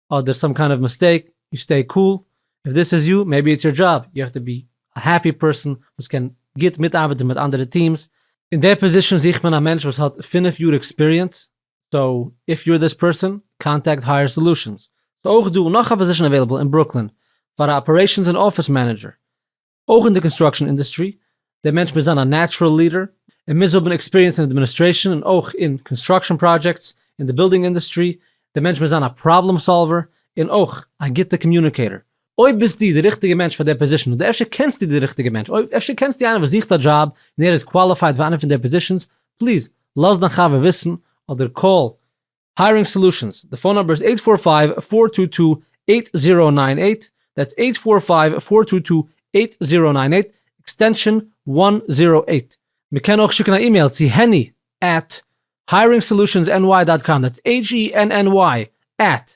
אדער סאם קיינד אוו מיסטעיק, יו סטעי קול, איף דיס איז יו, מעיבי איטס יור דזשאב, יו האב טו בי א העפי פערסאן וואס קען גוט מיטארבעטן מיט אנדערע טיעמס, אין די פאזישאן זוכט מען א מענטש וואס האט פֿינף יאר עקספיריענס, סאו איף יור דיס פערסאן קאנטעקט הייער סאלושענס. ס'אויך דא נאך א פאזישן אוועילעבל אין ברוקלין פאר א אפערעישאנס און אפיס מענעדזשער. אויך אין די קאנסטראקשען אינדוסטרי. די מענטש מוז זיין א נעטשרעל ליעדער. ער מוז האבן עקספיריענס אין אדמיניסטרעישאן און אויך אין קאנסטראקשען פראדזשעקטס אין די בילדינג אינדוסטרי. די מענטש מוז זיין א פראבלעם סאלווער און אויך א גוטע קאמיוניקעיטער. אויב ביסטו די ריכטיגע מענטש פאר דער פאזישאן אדער אפשר קענסטו די ריכטיגע מענטש, אויב אפשר קענסטו איינער וואס זוכט א דזשאב און ער איז קוואליפייד פאר איינע פון די פאזישאנס, פליז לאז דיין חבר וויסן אדער קאל היירינג סעלושענס, די פאון נומבער איז אייט פאר פייוו פאר טו טו אייט זירא ניין אייט, דעטס אייט פאר פייוו פאר טו טו אייט זירא ניין אייט, עקסטענשאן וואן זירא אייט. מען קען אויך שיקן א אימעיל צו העני עט היירינג סעלושענס ען וויי דאט קאם, דעטס הען ען וויי עט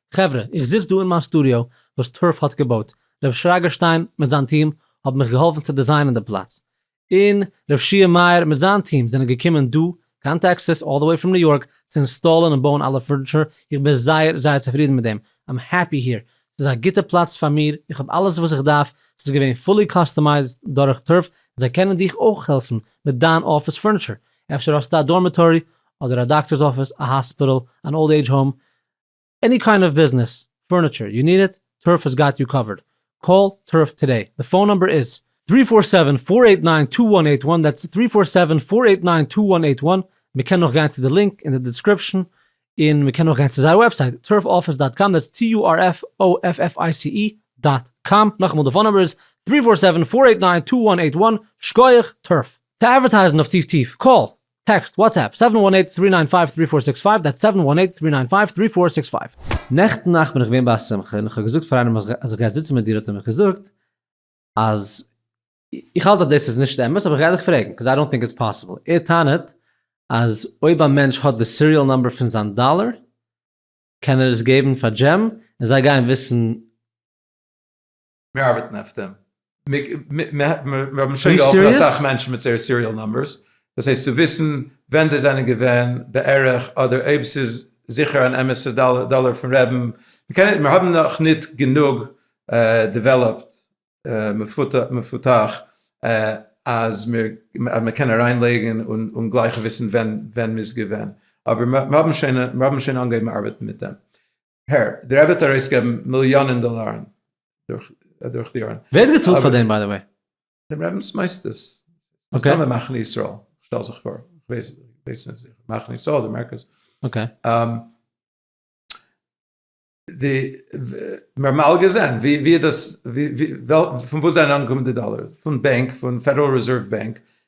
חברה, איך זיץ דא אין מיין סטודיאו וואס טרף האט געבויט, ר' שרגא שטיין מיט זיין טיעם האבן מיך געהאלפן צו דיזיינען די פלאץ, און ר' שיער מאיר מיט זיין טיעם זענען געקומען דא קיין טעקסעס אלל דע וועי פראם ניו יארק צו אינסטאלען און בויען אלע פורניטשער, איך בין זייער זייער צופרידן מיט דעם, איים העפי העיר, ס'איז א גוטע פלאץ פאר מיר, איך האב אלעס וואס איך דארף, ס'איז געווען פולי קאסטומייזד דורך טרף, און זיי קענען דיך אויך העלפן מיט דיין אפיס פורניטשער, אפשר האסטו א דארמיטארי, אדער א דאקטערס אפיס, א האספיטאל, אן אולד עידזש האום, עני קיינד אוו ביזנעס, פורניטשער, יו ניד איט? טורף האס גאט יו קאווערד. קאל טורף טודעי. די פאון נומבער איז. טרי פאר סעווען פאר עיט ניין טו וואן עיט וואן, דעטס טרי פאר סעווען פאר עיט ניין טו וואן עיט וואן, מען קען אויך גיין צו די לינק אין די דעסקריפשאן, און מען קען אויך גיין צו זייער וועבסייט טורף אפיס דאט קאם, דעטס טי יו אר עף או עף עף איי סי אי דאט קאם, נאכאמאל די פאון נומבער איז טרי פאר סעווען פאר עיט ניין טו וואן עיט וואן, שקויעך טורף. צו אדווערטייזן אויף טיף טיף, קאל. טעקסט, וואטסעפפ, סעווען וואן עיט טרי ניין פייוו טרי פאר סיקס פייוו, דעטס סעווען וואן עיט טרי ניין פייוו טרי פאר סיקס פייוו. נעכטן נאכט בין איך געווען ביי א שמחה און איך האב געזאגט פאר איינעם אז איך גיי זיצן מיט דיר האט ער מיך געזאגט אז איך האלט אז דאס איז נישט אמת אבער איך גיי דיך פרעגן קאוז איי דאנט טינק איטס פאסיבל ער טענה'ט אז אויב א מענטש האט די סיריעל נאמבער פון זיין דאלער קען ער עס געבן פאר דזשים און זיי גייען וויסן מיר ארבעטן אויף דעם, מיר האבן שוין געהאלפן אסאך מענטשן מיט זייער סיריעל נאמבערס, דאס הייסט צו וויסן ווען זיי זענען געווען בערך, אדער אויב ס'איז זיכער אן אמת'ע דאלער פון רעבן, מיר האבן נאך נישט גענוג דעוועלאפט, מפותח, אז מען קען אריין לייגן און גלייך וויסן ווען מ'איז געווען, אבער מיר האבן שוין אנגעהויבן ארבעטן מיט דעם. הער, די רבי האט ארויסגעגעבן מיליאנען דאלארן דורך די יארן. ווער האט געצאלט פאר דעם ביי די וועי? דעם רבינ'ס מוסדות. מסתמא מחנה ישראל, כ'שטעל זיך פאר. כ'ווייס נישט זיכער. מחנה ישראל אדער מרכז. אקעי. די, מיר האבן אלע געזען ווי דאס, פון וואס זענען אנגעקומען די דאלארן? פון בענק, פון פעדעראל רעזערוו בענק,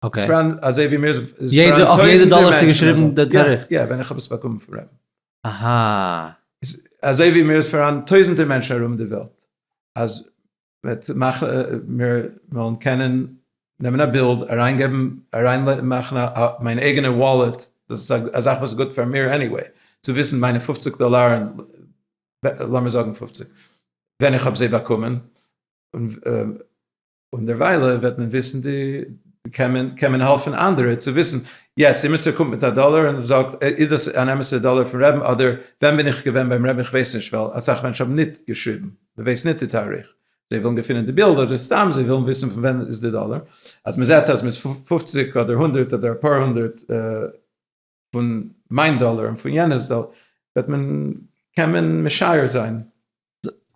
אקעי. ספרען אזוי ווי מיר ספרען יעדע אויף יעדע דאלער האסטו געשריבן די תאריך? יא, ווען איך האב עס באקומען פון רעב. אהא. אזוי ווי מיר ספרען טויזענטער מענטשן ארום די וועלט, אז וועט מאכן מיר וועלן קענען נעמען א בילד אריינגעבן אריין מאכן א מיין אייגענע וואלעט, דאס איז א זאך וואס איז גוט פאר מיר עניוועי, צו וויסן מיינע פופציג דאלארען, לאמיר זאגן פופציג, ווען איך האב זיי באקומען, און. און דערוויילע וועט מען וויסן די, קען מען, קען מען העלפן אנדערע צו וויסן, יעצט אימעצער קומט מיט א דאלער און זאגט איז דאס אן אמת'ע דאלער פון רעבן אדער ווען בין איך געווען ביים רעבן איך ווייס נישט ווייל אסאך מענטשן האבן ניט געשריבן מען ווייס ניט די תאריך זיי ווילן געפינען די בילד אדער סתם זיי ווילן וויסן פון ווען איז די דאלער אז מען זעט אז מען איז פֿופֿציק אדער הונדערט אדער אפאר הונדערט פון מיין דאלער און פון יענערס דאלער, וועט מען, קען מען משער זיין.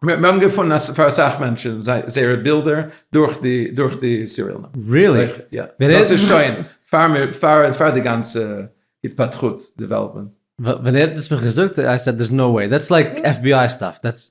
מיר האבן געפונען אז פאר אסאך מענטשן זייערע בילדער דורך די דורך די סיריעל נומבער. ריעלי? יא. דאס איז שוין פאר מיר פאר פאר די גאנצע התפתחות, דעוועלאפמענט. ווען ער האט עס מיך געזאגט, איי סעד דערס נאו וועי, דעטס לייק עף בי איי סטאף, דעטס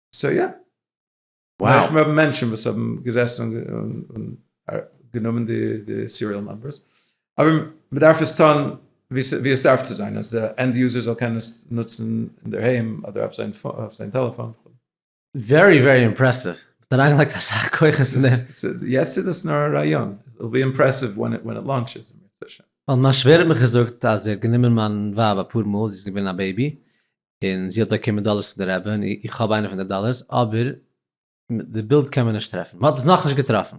סאו יא. וואו. און האבן מענטשן וואס האבן געזעסן און גענומען די סיריעל נומבערס. אבער מ'דארף עס טון ווי עס דארף צו זיין, אז די ענד יוזער זאל קענען עס נוצן אינדערהיים אדער אויף זיין טעלעפאן. ווערי ווערי אימפרעסיוו, מ'האט אריינגעלייגט אסאך כוחות אין דעם. יעצט איז דאס נאר א רעיון, איט וויל בי אימפרעסיוו ווען איט לאונטשעס. ווייל מיין שווער האט מיך געזאגט אז ער האט גענומען מיין ווייב אפאר מאל, זי איז געווען א בעיבי, און זי האט באקומען דאלערס פון די רבי און איך האב איינע פון די דאלערס אבער די בילד קען מען נישט טרעפן, מען האט עס נאכנישט געטראפן.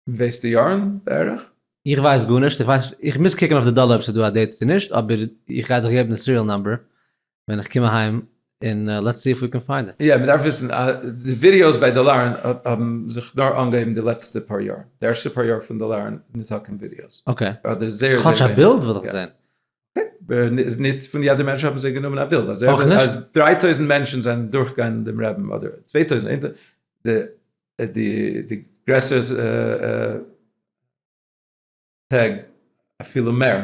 ווייסטו יארן בערך? איך ווייס גארנישט, איך ווייס איך מוז קוקן אויף די דאלער אויב ס'איז דא א דעיט צו נישט, אבער איך גיי דיך געבן די סיריעל נאמבער ווען איך קום אהיים און לעטס סי איף ווי קען פיינד איט. יא, מען דארף וויסן אז די ווידעאוס ביי דאלארן האבן זיך נאר אנגעהויבן די לעצטע פאר יאר, די ערשטע פאר יאר פון דאלארן איז ניטא קיין ווידעאוס, אדער זייער זייער ווייניג. כאטש א בילד וויל איך זעהן. ניט פֿון יעדער מענטש האָבן זײ גענומען אַ בילד. אַז דרײַ טױזנט מענטשן זענען דורכגעגאַנגען דעם רבין, אָדער צװײ טױזנט, אונטער די גרעסערע טעג אַפֿילו מער.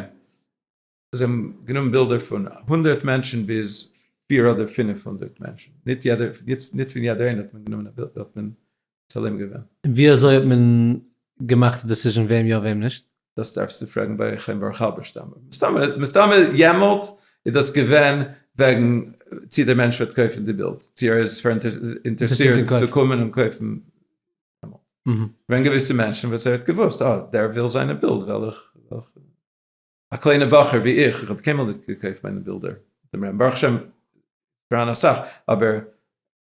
זײ האָבן גענומען בילדער פֿון הונדערט מענטשן ביז פֿיר אָדער פֿינף הונדערט מענטשן. ניט יעדער, ניט פֿון יעדער אײנער האָט מען גענומען אַ בילד. תולים געווען. ווי אזוי האט מען געמאכט די דעסיזשען וועם יא וועם נישט? דאס דארפסטו פרעגן ביי חיים ברוך האלבערשטאם. מסתמא יעמאלט איז דאס געווען וועגן צי דער מענטש וועט קויפן די בילד, צי ער איז אינטערסירט צו קומען און קויפן. ווען געוויסע מענטשן וואס ער האט געוואוסט אה דער וויל זיינע בילד וועל איך, א קליינע בחור ווי איך, איך האב קיינמאל נישט געקויפט מיינע בילדער, ברוך השם פאראן אסאך, אבער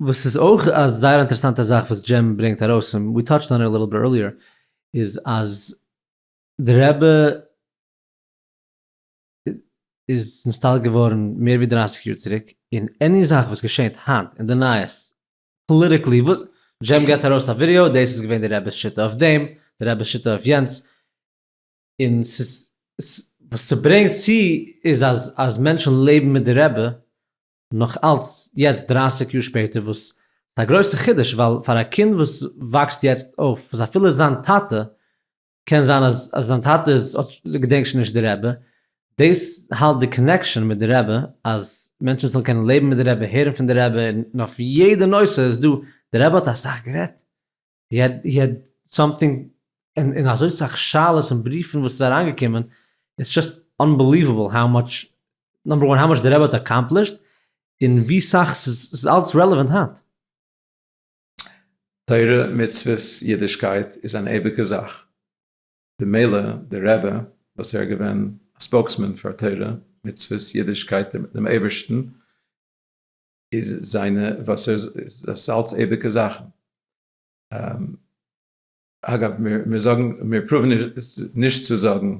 וואס איז אויך א זייער אינטערעסאנטע זאך וואס ג'עם ברענגט ארויס, און ווי טאטשד אן איט א ליטל ביט ערליער, איז אז די רבי איז נסתלק געווארן מער ווי דרייסיג יאר צוריק, און עני זאך וואס געשענט היינט אין די נייעס, פאליטיקלי וואס, ג'עם געט ארויס א ווידיאו, דאס איז געווען די רבי'ס שיטה אויף דעם, די רבי'ס שיטה אויף יענץ, און ס'איז, וואס ס'ברענגט צו איז אז אז מענטשן לעבן מיט די רבי, נאך אלץ יעצט דרײַסיק יאר שפעטער וואס ס'איז א גרויסע חידוש ווייל פאר א קינד וואס וואקסט יעצט אויף וואס אפילו זיין טאטע קען זיין אז אז זיין טאטע איז האט געדענקט שוין נישט די רבי דאס האלט די קאנעקשאן מיט די רבי אז מענטשן זאלן קענען לעבן מיט די רבי הערן פון די רבי און אויף יעדע נושא איז דא די רבי האט אסאך גערעדט. הי העד הי העד סאמטינג און אזוי סאך שאלות און בריפן וואס איז אריינגעקומען, איטס זשאסט אנבעליוועבל האו מאטש, נאמבער וואן האו מאטש די רבי האט אקאמפלישט, און ווי סאך ס'איז אלץ רעלעווענט היינט. תורה, מצוות, אידישקייט איז אן אייביגע זאך, במילא די רבי וואס ער געווען א ספאוקסמען פאר תורה, מצוות, אידישקייט, דעם אייבערשטן, איז זיינע וואסער זאלצעדיגע זאכן. אגב, מיר זאגן, מיר פרואוון נישט צו זאגן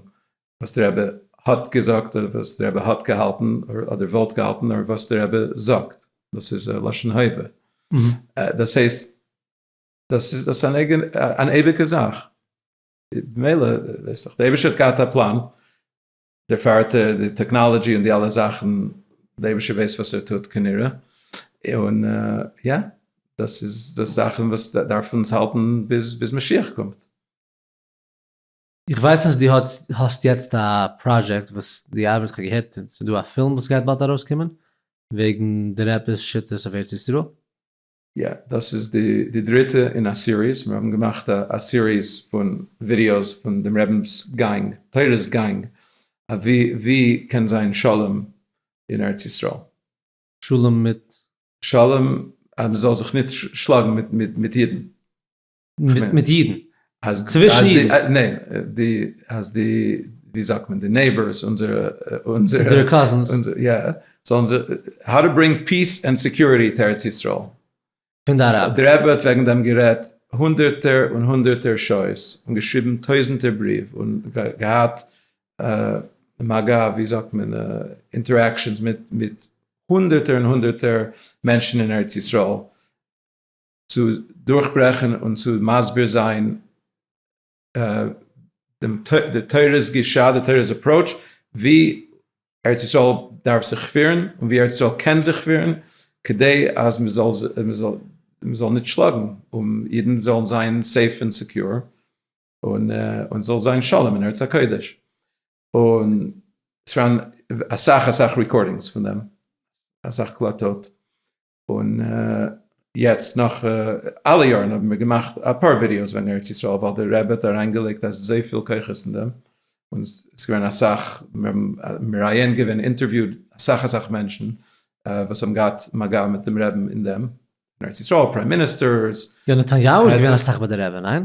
וואס דער רבי האט געזאגט אדער וואס דער רבי האט געהאלטן אדער וואלט געהאלטן, נאר וואס דער רבי זאגט, דאס איז א לשון הווה. דאס הייסט, דאס איז אן אייביגע זאך. ממילא, ווייסעך, דער אייבישטער האט געהאט א פלאן, דער פארטער, די טעקנאלעדזשי און די אלע זאכן, דער אייבערשטער ווייסט וואס ער טוט כנראה, און יא, דאס איז די זאכן וואס דארף אונז האלטן ביז משיח קומט. איך ווייס אז דו האסט יעצט א פראזשעקט וואס דו ארבעטסט, כ'האב געהערט ס'איז דא א פילם וואס גייט באלד ארויסקומען וועגן די רעבעס שיטות אויף ארץ ישראל. יא, דאס איז די דריטע אין א סיריס, מיר האבן געמאכט א סיריס פון ווידיאוס פון דעם רבינ'ס גאנג, תורת גאנג, אווי ווי קען זיין שלום אין ארץ ישראל. שלום מיט? שלום אז מען זאל זיך נישט שלאגן מיט אידן. מיט אידן. אז צווישן אידן. ניין, די, אז די, ווי זאגט מען, די נעיבארס, אונזערע, אונזערע. אונזערע קאזינס. יא, זאלן זיי, האו טו ברענג פיס ענד סעקיוריטי טו ארץ ישראל. פון די אראבער. די רבי האט וועגן דעם גערעדט הונדערטער און הונדערטער שעות, און געשריבן טויזנטער בריוו, און געהאט מגע, ווי זאגט מען, אינטערעקשאנס מיט הונדערטער און הונדערטער מענטשן אין ארץ ישראל. צו דורכברעכן און צו מסביר זיין די תורה'ס גישה, די תורה'ס אפראוטש, ווי ארץ ישראל דארף זיך פירן און ווי ארץ ישראל קען זיך פירן, כדי אז מ'זאל נישט שלאגן, און אידן זאלן זיין סעיף און סעקיור, און ס'זאל זיין שלום אין ארץ הקודש. און ס'פארהאן אסאך אסאך רעקארדינגס פון דעם, אסאך קלטות. און יעצט נאך אלע יארן האבן מיר געמאכט אפאר ווידיאוס וועגן ארץ ישראל ווייל די רבי האט אריינגעלייגט אזויפיל כוחות אין דעם און עס איז געווען אסאך, מיר האבן מראיין געווען, אינטערוויוד אסאך אסאך מענטשן וואס האבן געהאט מגע מיט דעם רבי'ן אין דעם, אין ארץ ישראל, פריים מיניסטערס. יונתן יאוו איז געווען אסאך ביי די רבי, ניין?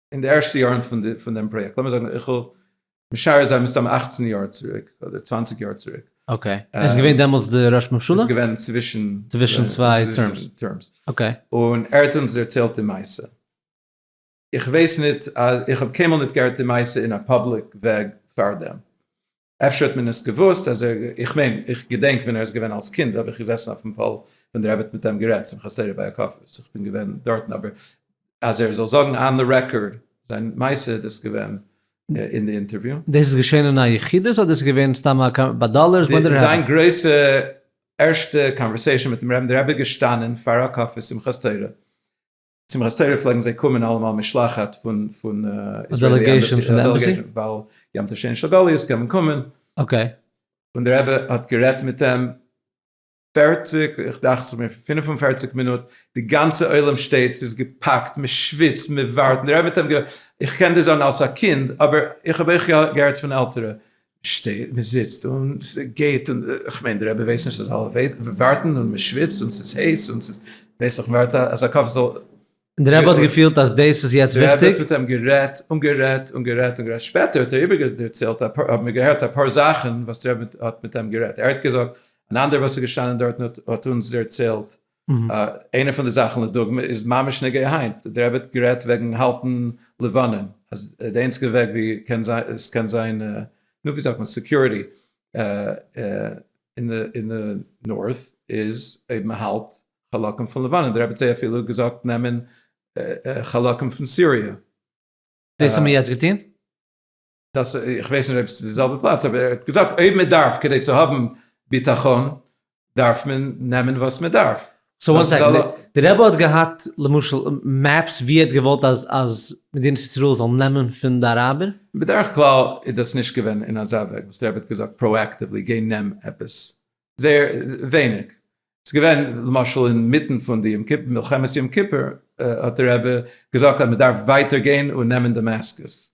אין די ערשטע יארן פון דעם פראיעקט, לאמיר זאגן איך וויל משער זיין מסתם אַכצן יאר צוריק, אדער צוואַנציק יאר צוריק. אקעי, ער איז געווען דעמאלטס די ראש ממשלה? ער איז געווען צווישן צוויי טערמס. אקעי. און ער האט אונז דערציילט די מעשה. איך ווייס ניט, איך האב קיינמאל ניט געהערט די מעשה אין א פאבליק וועג פארדעם. אפשר האט מען עס געוואוסט אז ער, איך מיין, איך געדענק ווען ער איז געווען אלס קינד האב איך געזעסן אויפן פאל ווען די רבי האט מיט אים גערעדט, שמחת תורה ביי הקפות, איך בין געווען דארטן, אבער אז ער זאל זאגן אן די רעקארד זיין מעשה איז דאס געווען אין די אינטערוויו. דאס איז געשען אין א יחידות אדער עס איז געווען סתם א קאנ. ביי דאלערס וואנדער העווען? זיין גרויסע ערשטע קאנווערסעישאן מיטן רעבן, די רבי איז געשטאנען פאר הקפה שמחת תורה, שמחת תורה פלעגן זיי קומען אלעמאל משלחת פון פון דעלעגעישן פון אמבעסי, ווייל יום טוב שני של גליות קען מען קומען. אקעי. און דער רבי האט גערעדט מיט אים פערציג, איך דאכט זיך מיר פֿינף און פֿערציק מינוט, די גאנצע עולם שטייט, ס'איז געפאקט, מען שוויצט, מען ווארט, און דער רבי האט אים געזאגט, איך קען דיר זאגן אלס א קינד, אבער איך האב אויך געהערט פון עלטערע, מ'שטייט, מ'זיצט, און ס'גייט, און כ'מיין די רבי ווייסט נישט אז אלע ווארטן, און מ'שוויצט, און ס'איז הייס, און ס'איז, ווייס איך מ'ווארט אז א קאפ זאל. און די רבי האט געפילט אז דאס איז יעצט וויכטיג. די רבי האט מיט אים גערעדט, און גערעדט, און גערעדט, און גערעדט, שפעטער האט ער איבערגעדערציילט, האבן מיר געהערט אפאר זאכן וואס די רבי האט מיט אים גערעדט, ער האט געזאגט, אן אנדערער וואס איז געשטאנען דארטן האט אונז דערציילט, איינע פון די זאכן לדוגמא איז ממש נוגע היינט, דער רבי האט גערעדט וועגן האלטן לבנון, אז די איינציגע וועג ווי עס קען זיין נו ווי זאגט מען סעקיוריטי אין די נארט איז אויב מען האלט חלקים פון לבנון, דער רבי האט זיי אפילו געזאגט נעמען חלקים פון סיריע. דאס האבן מיר יעצט געטון? דאס איך ווייס נישט אויב ס'איז די זעלבע פלאץ אבער ער האט געזאגט אויב מען דארף כדי צו האבן ביטחון דארף מען נעמען וואס מען דארף. סאו וואן סעקענד, די רבי האט געהאט למשל מעפס ווי ער האט געוואלט אז אז מדינת ישראל זאל נעמען פון די אראבער? בדרך כלל איז דאס נישט געווען אין אזא וועג וואס די רבי האט געזאגט פראעקטיוולי גיי נעם עפעס, זייער ווייניג, ס'איז געווען למשל אינמיטן פון די יום כיפור מלחמת יום כיפור האט די רבי געזאגט אז מען דארף ווייטער גיין און נעמען דעמעסקוס.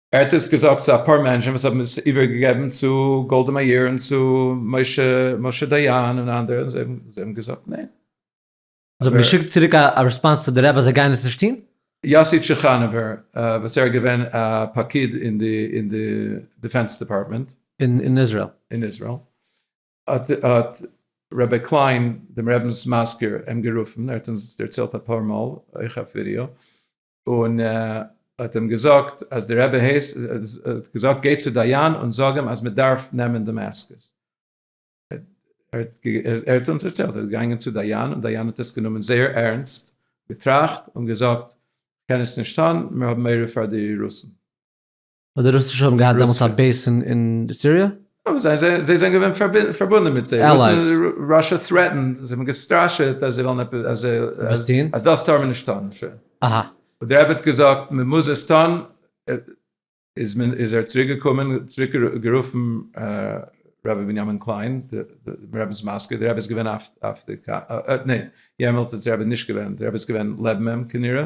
ער האט דאס געזאגט צו אפאר מענטשן וואס האבן עס איבערגעגעבן צו גאלדע מאיר און צו משה דיין און אנדערע און זיי האבן געזאגט ניין. זיי האבן געשיקט צוריק א רעספאנס צו די רבי אז זיי גייען עס נישט טון? יאסי טשעכאנעווער וואס ער איז געווען א פקיד אין די דיפענס דעפארטמענט אין איזראעל האט רבי קליין דעם רבינ'ס מזכיר אים גערופן, ער האט אונז דערציילט אפאר מאל אויך אויף ווידעא, און האט אים געזאגט אז די רבי הייסט, האט געזאגט גיי צו דיין און זאג אים אז מען דארף נעמען די מעסקעס, ער האט אונז דערציילט, ער איז געגאנגען צו דיין און דיין האט עס גענומען זייער ערנסט, געטראכט און געזאגט, כ'קען עס נישט טון, מיר האבן מורא פאר די רוסן. אבער די רוסישע האבן געהאט דעמאלטס א בעיס אין סיריע? אבער זיי זענען זיי זענען געווען פארבונדען מיט זיי, ראשע טרעטענד, זיי האבן געסטראשעט אז זיי וועלן עפעס אז זיי אז דאס טאר מען נישט טון, אהא, און דער רבי האט געזאגט מען מוז עס טון, איז מען איז ער צוריק געקומען צוריק גערופן רבי בנימין קליין דער רבי'ס מזכיר, דער רבי איז געווען אויף די קאר, ניין יערמאלט איז דער רבי נישט געווען, דער רבי איז געווען לעבן אים כנראה.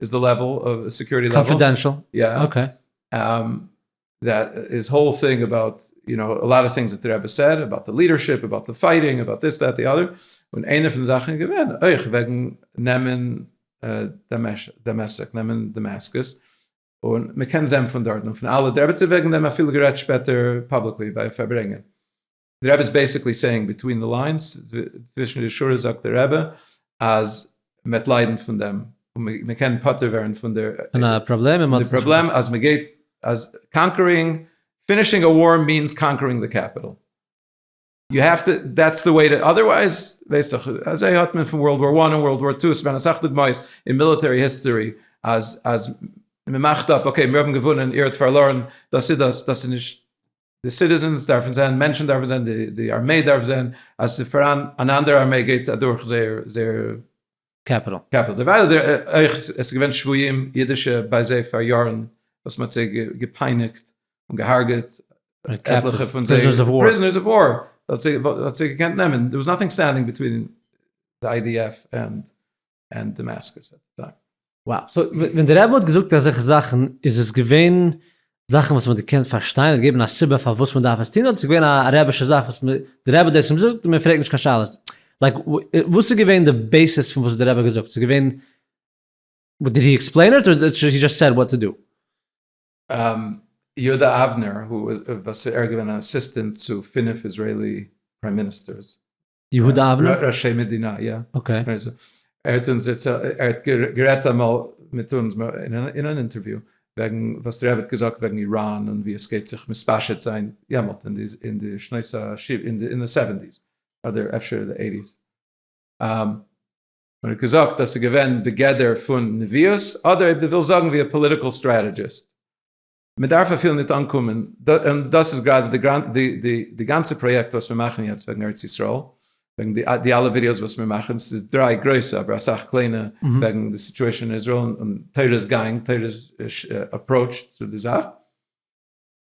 איז די לעוועל אוו סעקיוריטי לעוועל. קאנפידענשעל? יא. אקעי. דעט איז האול טינג אבאוט יו נאו א לאט אוו טינגס דעט די רבי סעד אבאוט די לידערשיפ אבאוט די פייטינג אבאוט דיס דעט די אדער און איינע פון די זאכן איז געווען אויך וועגן נעמען דמשק נעמען דעמעסקעס און מ'קען זען פון דארטן און פון אלע די רבי האט וועגן דעם אפילו גערעדט שפעטער פאבליקלי ביי פארברענגען די רבי איז בעסיקלי סעינג ביטווין די ליינס, צווישן די שורות זאגט די רבי אז מען וועט ליידן פון דעם, און מען קען פטור ווערן פון די פראבלעם אז מען גייט, אז קאנקערינג, פינישינג א וואר מיענס קאנקערינג די קעפיטאל, יו העוו טו, דעטס די וועי, אדערווייז, ווייסט דאך, אזוי האט מען פון ווארלד וואר וואן און ווארלד וואר טו, עס איז געווען אסאך דוגמאות אין מיליטערי היסטארי אז מען מאכט אפ, אקעי מיר האבן געוואונען איר האט פארלוירן, דאס איז דאס, דאס איז נישט. די סיטיזענס דארפן זען, מענטשן דארפן זען, די ארמעי דארף זען אז ס'איז פאראן אן אנדערע ארמעי גייט אדורך זייער קעפיטאל. דערווייל אויך עס איז געווען שבויים אידישע ביי זיי פאר יארן וואס מ'האט זיי געפייניגט און געהארגעט, עטליכע פון זיי פריזענערס אוו וואר, האט זיי געקענט נעמען, דער וואס נאטינג סטענדינג ביטווין די איי די עף ענד און דעמאסקוס אט די טיים. וואו. סאו ווען דער רבי האט געזאגט אזעלכע זאכן איז עס געווען זאכן וואס מען האט געקענט פארשטיין, ער האט געגעבן א סיבה פארוואס מען דארף עס טון, אדער עס איז געווען א רבישע זאך וואס מען, דער רבי האט דאס געזאגט און מען פרעגט נישט קיין שאלות? לייק וואס איז געווען די בעיסיס פון וואס האט דער רבי געזאגט? ס'איז געווען, דיד הי עקספלעין איט אדער הי דזשאסט סעד וואט טו דו? יהודה אבנר, וואס ער איז געווען אן אסיסטענט צו פינף איזרעילי פריים מיניסטערס, יהודה אבנר? ראשי מדינה, יא. אקעי. ער האט אונז דערציילט, ער האט גערעדט אמאל מיט אונז אין אן אינטערוויו, וועגן וואס די רבי האט געזאגט וועגן איראן און ווי עס גייט זיך מתפשט זיין יעמאלט אין די אין די שנות ה אין די סעווענטיס, אדער אפשר די עיטיס. און ער האט געזאגט אז ס'איז געווען בגדר פון נביאות, אדער אויב דו ווילסט זאגן ווי א פאליטיקעל סטרעטעדזשיסט. מען דארף אפילו ניט אנקומען, און דאס איז גראדע די גאנצע פראיעקט וואס מיר מאכן יעצט וועגן ארץ ישראל, וועגן די אלע ווידיאוס וואס מיר מאכן, עס איז דריי גרויסע אבער אסאך קליינע וועגן די סיטועשאן אין איזראעל און תורת גאנג, תורת אפראוטש צו די זאך,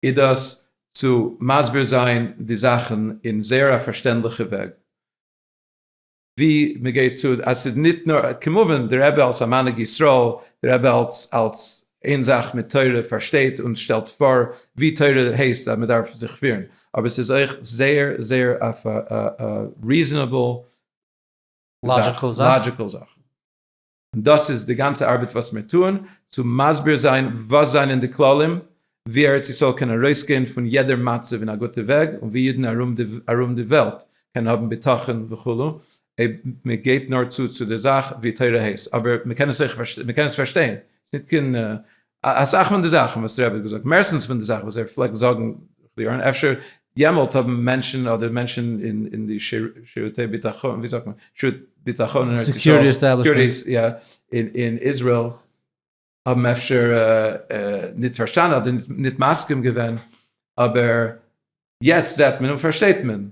איז דאס צו מסביר זיין די זאכן אין זייער א פארשטענדליכע וועג. ווי מען געט צו אז ס'איז ניט נאר כמובן דער רבי אלס א מנהיג ישראל, דער רבי אלס אלס איין זאך מיט תורה פארשטייט און שטעלט פאר ווי תורה הייסט אז מען דארף זיך פירן, אבער ס'איז אויך זייער זייער אויף א ריזענעבל זאך, לאדזשיקעל זאך. און דאס איז די גאנצע ארבעט וואס מיר טוען, צו מסביר זיין וואס זענען די כללים, ווי ארץ ישראל קען ארויסגיין פון יעדער מצב אין א גוטע וועג, און ווי אידן ארום די וועלט קענען האבן ביטחון וכו', אויב מען געבט נאר צו צו די זאך ווי תורה הייסט, אבער מען קען עס אויך פארשטיין, ס'ניט קיין א אסאך פון די זאכן וואס רעב האט געזאגט, מערסטנס פון די זאכן וואס ער פלעגט זאגן, קלירן, אפשר יעמאלט האבן מענטשן אדער מענטשן אין די שירותי ביטחון, ווי זאגט מען? שירות ביטחון אין ארץ ישראל, סעקיוריטי עסטעבלישמענט, יא, אין איזראעל, האבן אפשר ניט פארשטאנען אדער ניט מסכים געווען, אבער יעצט זעט מען און פארשטייט מען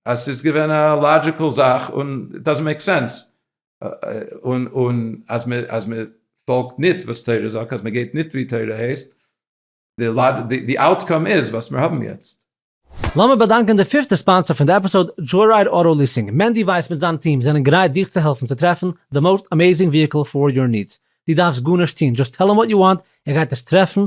אז ס'איז געווען א לאדזשיקעל זאך און איט דאזענט מעיק סענס און אז מען אז מען פאלגט ניט וואס תורה זאגט אז מען גייט ניט ווי תורה הייסט, די אוטקאם איז וואס מיר האבן יעצט. לאמיר באדאנקען די פיפטע ספאנסער פון די עפיסאוד, דזשויראיד אוטא ליסינג, מענדי ווייס מיט זיין טיעם זענען גרייט דיך צו העלפן צו טרעפן די מאוסט אמעזינג וויהיקל פאר יור נידס, די דארפסט גארנישט טוהן, דזשאסט טעל אים וואט יו וואנט, ער גייט עס טרעפן,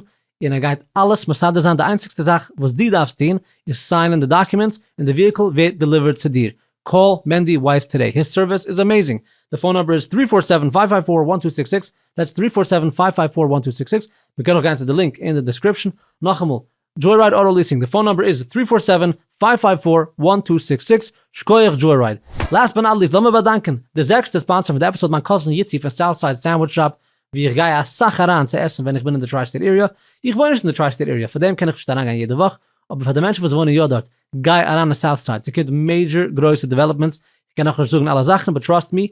און ער גייט אלעס מסדר זיין, די איינציגסטע זאך וואס דו דארפסט טון איז סיינען די דאקומענטס און די וויהיקל ווערט דעליווערט צו דיר, קאל מענדי ווייס טודעי, היס סערוויס איז עמעזינג, די פאון נומבער איז טרי פאר סעווען פייוו פייוו פאר וואן טו סיקס סיקס, דעטס טרי פאר סעווען פייוו פייוו פאר וואן טו סיקס סיקס, מען קען אויך גיין צו די לינק אין די דעסקריפשאן, נאכאמאל, דזשוי-רייד אוטא ליעסינג, די פאון נומבער איז טרי פאר סעווען פייוו פייוו פאר וואן טו סיקס סיקס, שקויעך דזשוי-רייד. לאסט באט נאט ליעסט לאמיר באדאנקען די זעקסטע ספאנסער פון די עפיסאד מיין קאזין איצי פון סאוט סייד סענדוויטש שאפ, ווי איך גיי אסאך אריין צו עסן ווען איך בין אין די טריי סטעיט עיריע, איך וואוין נישט אין די טריי סטעיט עיריע פאר דעם קען איך נישט אריינגיין יעדע וואך, אבער פאר די מענטשן וואס וואוינען יא דארט, גיי אריין אין סאוט סייד ס'קומט מעידזשער גרויסע דעוועלאפמענטס, איך קען נאכנישט זאגן אלע זאכן באט טראסט מי,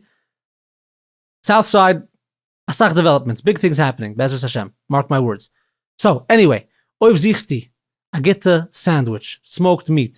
סאוט סייד אסאך דעוועלאפמענטס ביג טינגס העפענינג בעזרת השם מארק מיי ווארדס, סאו עניוועי אויב זוכסטו א גוטע סענדוויטש סמאוקד מיעט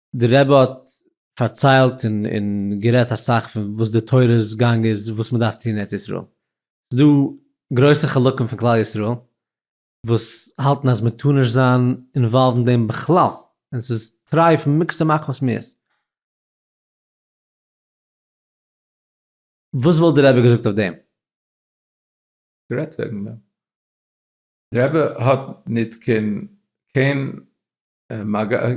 די רבי האט פארציילט און גערעדט אסאך פון וואס די תורה'ס גאנג איז וואס מ'דארף טון אין ארץ ישראל. ס'איז דא גרויסע חלקים פון כלל ישראל וואס האלטן אז מ'טאר נישט זיין אינוואלווד אין דעם בכלל, און ס'איז טרייף מקצה מחמת מיאוס. וואס וואלט די רבי געזאגט אויף דעם? גערעדט וועגן דעם. די רבי האט ניט קיין קיין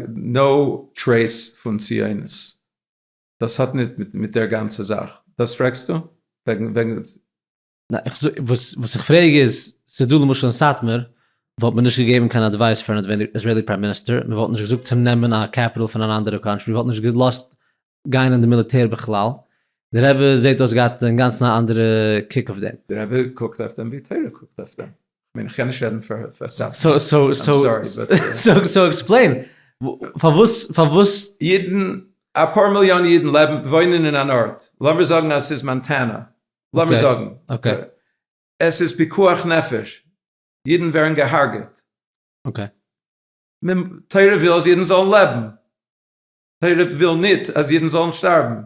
נאו טרעיס פון ציונות. דאס האט נישט מיט דער גאנצע זאך. דאס פרעגסטו? וועגן. וואס איך פרעג איז, ס'איז דא למשל אין סאטמאר, וואלט מען נישט געגעבן קיין אדווייס פארן איזרעילי פריים מיניסטער, מ'וואלט נישט געזאגט צו נעמען א קעפיטעל פון אן אנדערע קאנטרי, מ'וואלט נישט געלאזט גיין אין די מיליטער בכלל, די רבי זעט אויס געהאט אינגאנצן א אנדערע קוק אויף דעם. די רבי קוקט אויף דעם ווי תורה קוקט אויף דעם. כ'מיין כ'קען נישט רעדן פאר סאטמאר, איים סארי באט. סאו עקספלעין, פארוואס פארוואס. אידן, אפאר מיליאן אידן לעבן וואוינען אין אן ארט, לאמיר זאגן אז ס'איז מאנטענא, לאמיר זאגן, עס איז פיקוח נפש, אידן ווערן געהארגעט, תורה וויל אז אידן זאלן לעבן, טאלעב וויל ניט אז אידן זאלן שטארבן.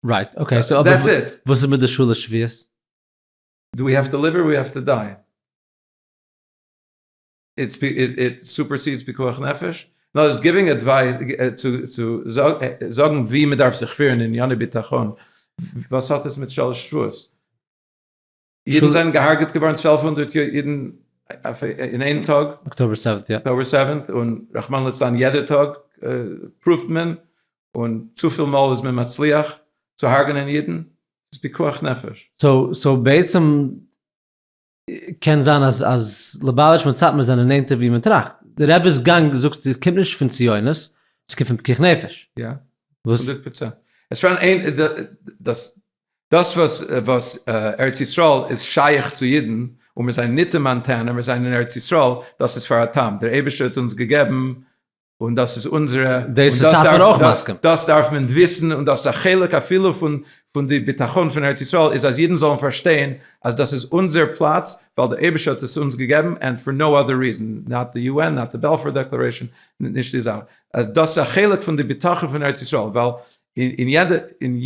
רייט, אקעי, סאו אבער וואס איז מיט די שלש שבועות? דו ווי האו טו ליוו אר ווי האו טו דיי? איט סופערסידס פיקוח נפש? אין אנדערע ווארט גיווינג עדווייס צו צו זאגן ווי מען דארף זיך פירן אין ענייני ביטחון, וואס האט עס מיט שלש שבועות? אידן זענען געהארגעט געווארן צוועלף הונדערט אידן אין איין טאג, אקטאבער סעווענט, יא, אקטאבער סעווענט, און רחמנא לצלן יעדע טאג פרואווט מען, און צופיל מאל איז מען מצליח צו הרג'נען אידן, ס'איז פיקוח נפש. סאו סאו בעצם קען זיין אז אז ליבאוויטש מיט סאטמאר זענען נענטער ווי מען טראכט, די רבי'ס גאנג זאגסטו קומט נישט פון ציונות, ס'קומט פון פיקוח נפש. יא, הונדערט פראצענט. עס פארהאן איין דאס. דאס וואס ארץ ישראל איז שייך צו אידן און מיר זענען ניט אין מאנטענע, מיר זענען אין ארץ ישראל, דאס איז פאר א טעם, דער אייבערשטער האט אונז געגעבן און דאס איז אונזערע, און דאס דארף, דאס דארף מען וויסן, און דאס איז א חלק אפילו פון די ביטחון פון ארץ ישראל איז אז אידן זאלן פארשטיין אז דאס איז אונזער פלאץ ווייל דער אייבערשטער האט עס אונז געגעבן ענד פאר נאו אדער ריזען, נאט די יו ען, נאט די בעלפאר דעקלערעישאן, נישט די זאך, אז דאס איז א חלק פון די ביטחון פון ארץ ישראל, ווייל אין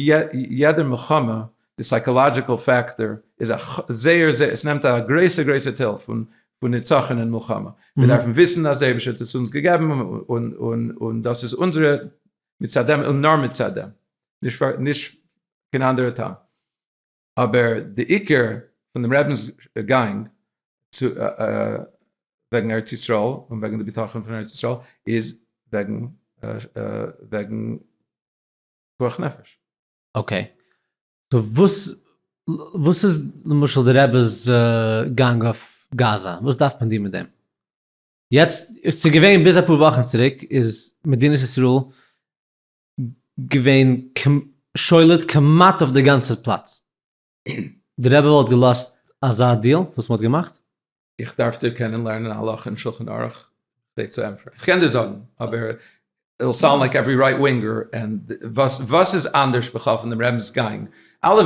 יעדע מלחמה די סייקאלאדזשיקעל פעקטאר איז א זייער זייער עס נעמט א גרויסע גרויסע טייל פון פון נצחון אין מלחמה מיר דארפן וויסן אז דער אייבישטער האט עס אונז געגעבן און און און דאס איז אונזערע מצד דעם און נאר מצד דעם נישט נישט קיין אנדערע טעם. אבער די עיקר פון דעם רבינ'ס גאנג וועגן ארץ ישראל און וועגן די ביטחון פון ארץ ישראל איז וועגן וועגן פיקוח נפש. אקעי. סאו וואס וואס איז למשל די רבינ'ס גאנג אויף גאזא? וואס דארף מען דיר מיט דעם? יעצט, ס'איז געווען ביז אפאר וואכן צוריק איז מדינת ישראל געווען שולט כמעט אויף די גאנצע פלאץ. די רבי וואלט געלאזט אזא דיעל וואס מ'האט געמאכט? איך דארף דיר קענען לערנען א הלכה אין שלחן ערוך כדי צו ענטפערן. איך קען דיר זאגן, אבער איט וויל סאונד לייק עווערי רייט ווינגער און וואס וואס איז אנדערש בכלל פון דעם רעבינ'ס גאנג? אלע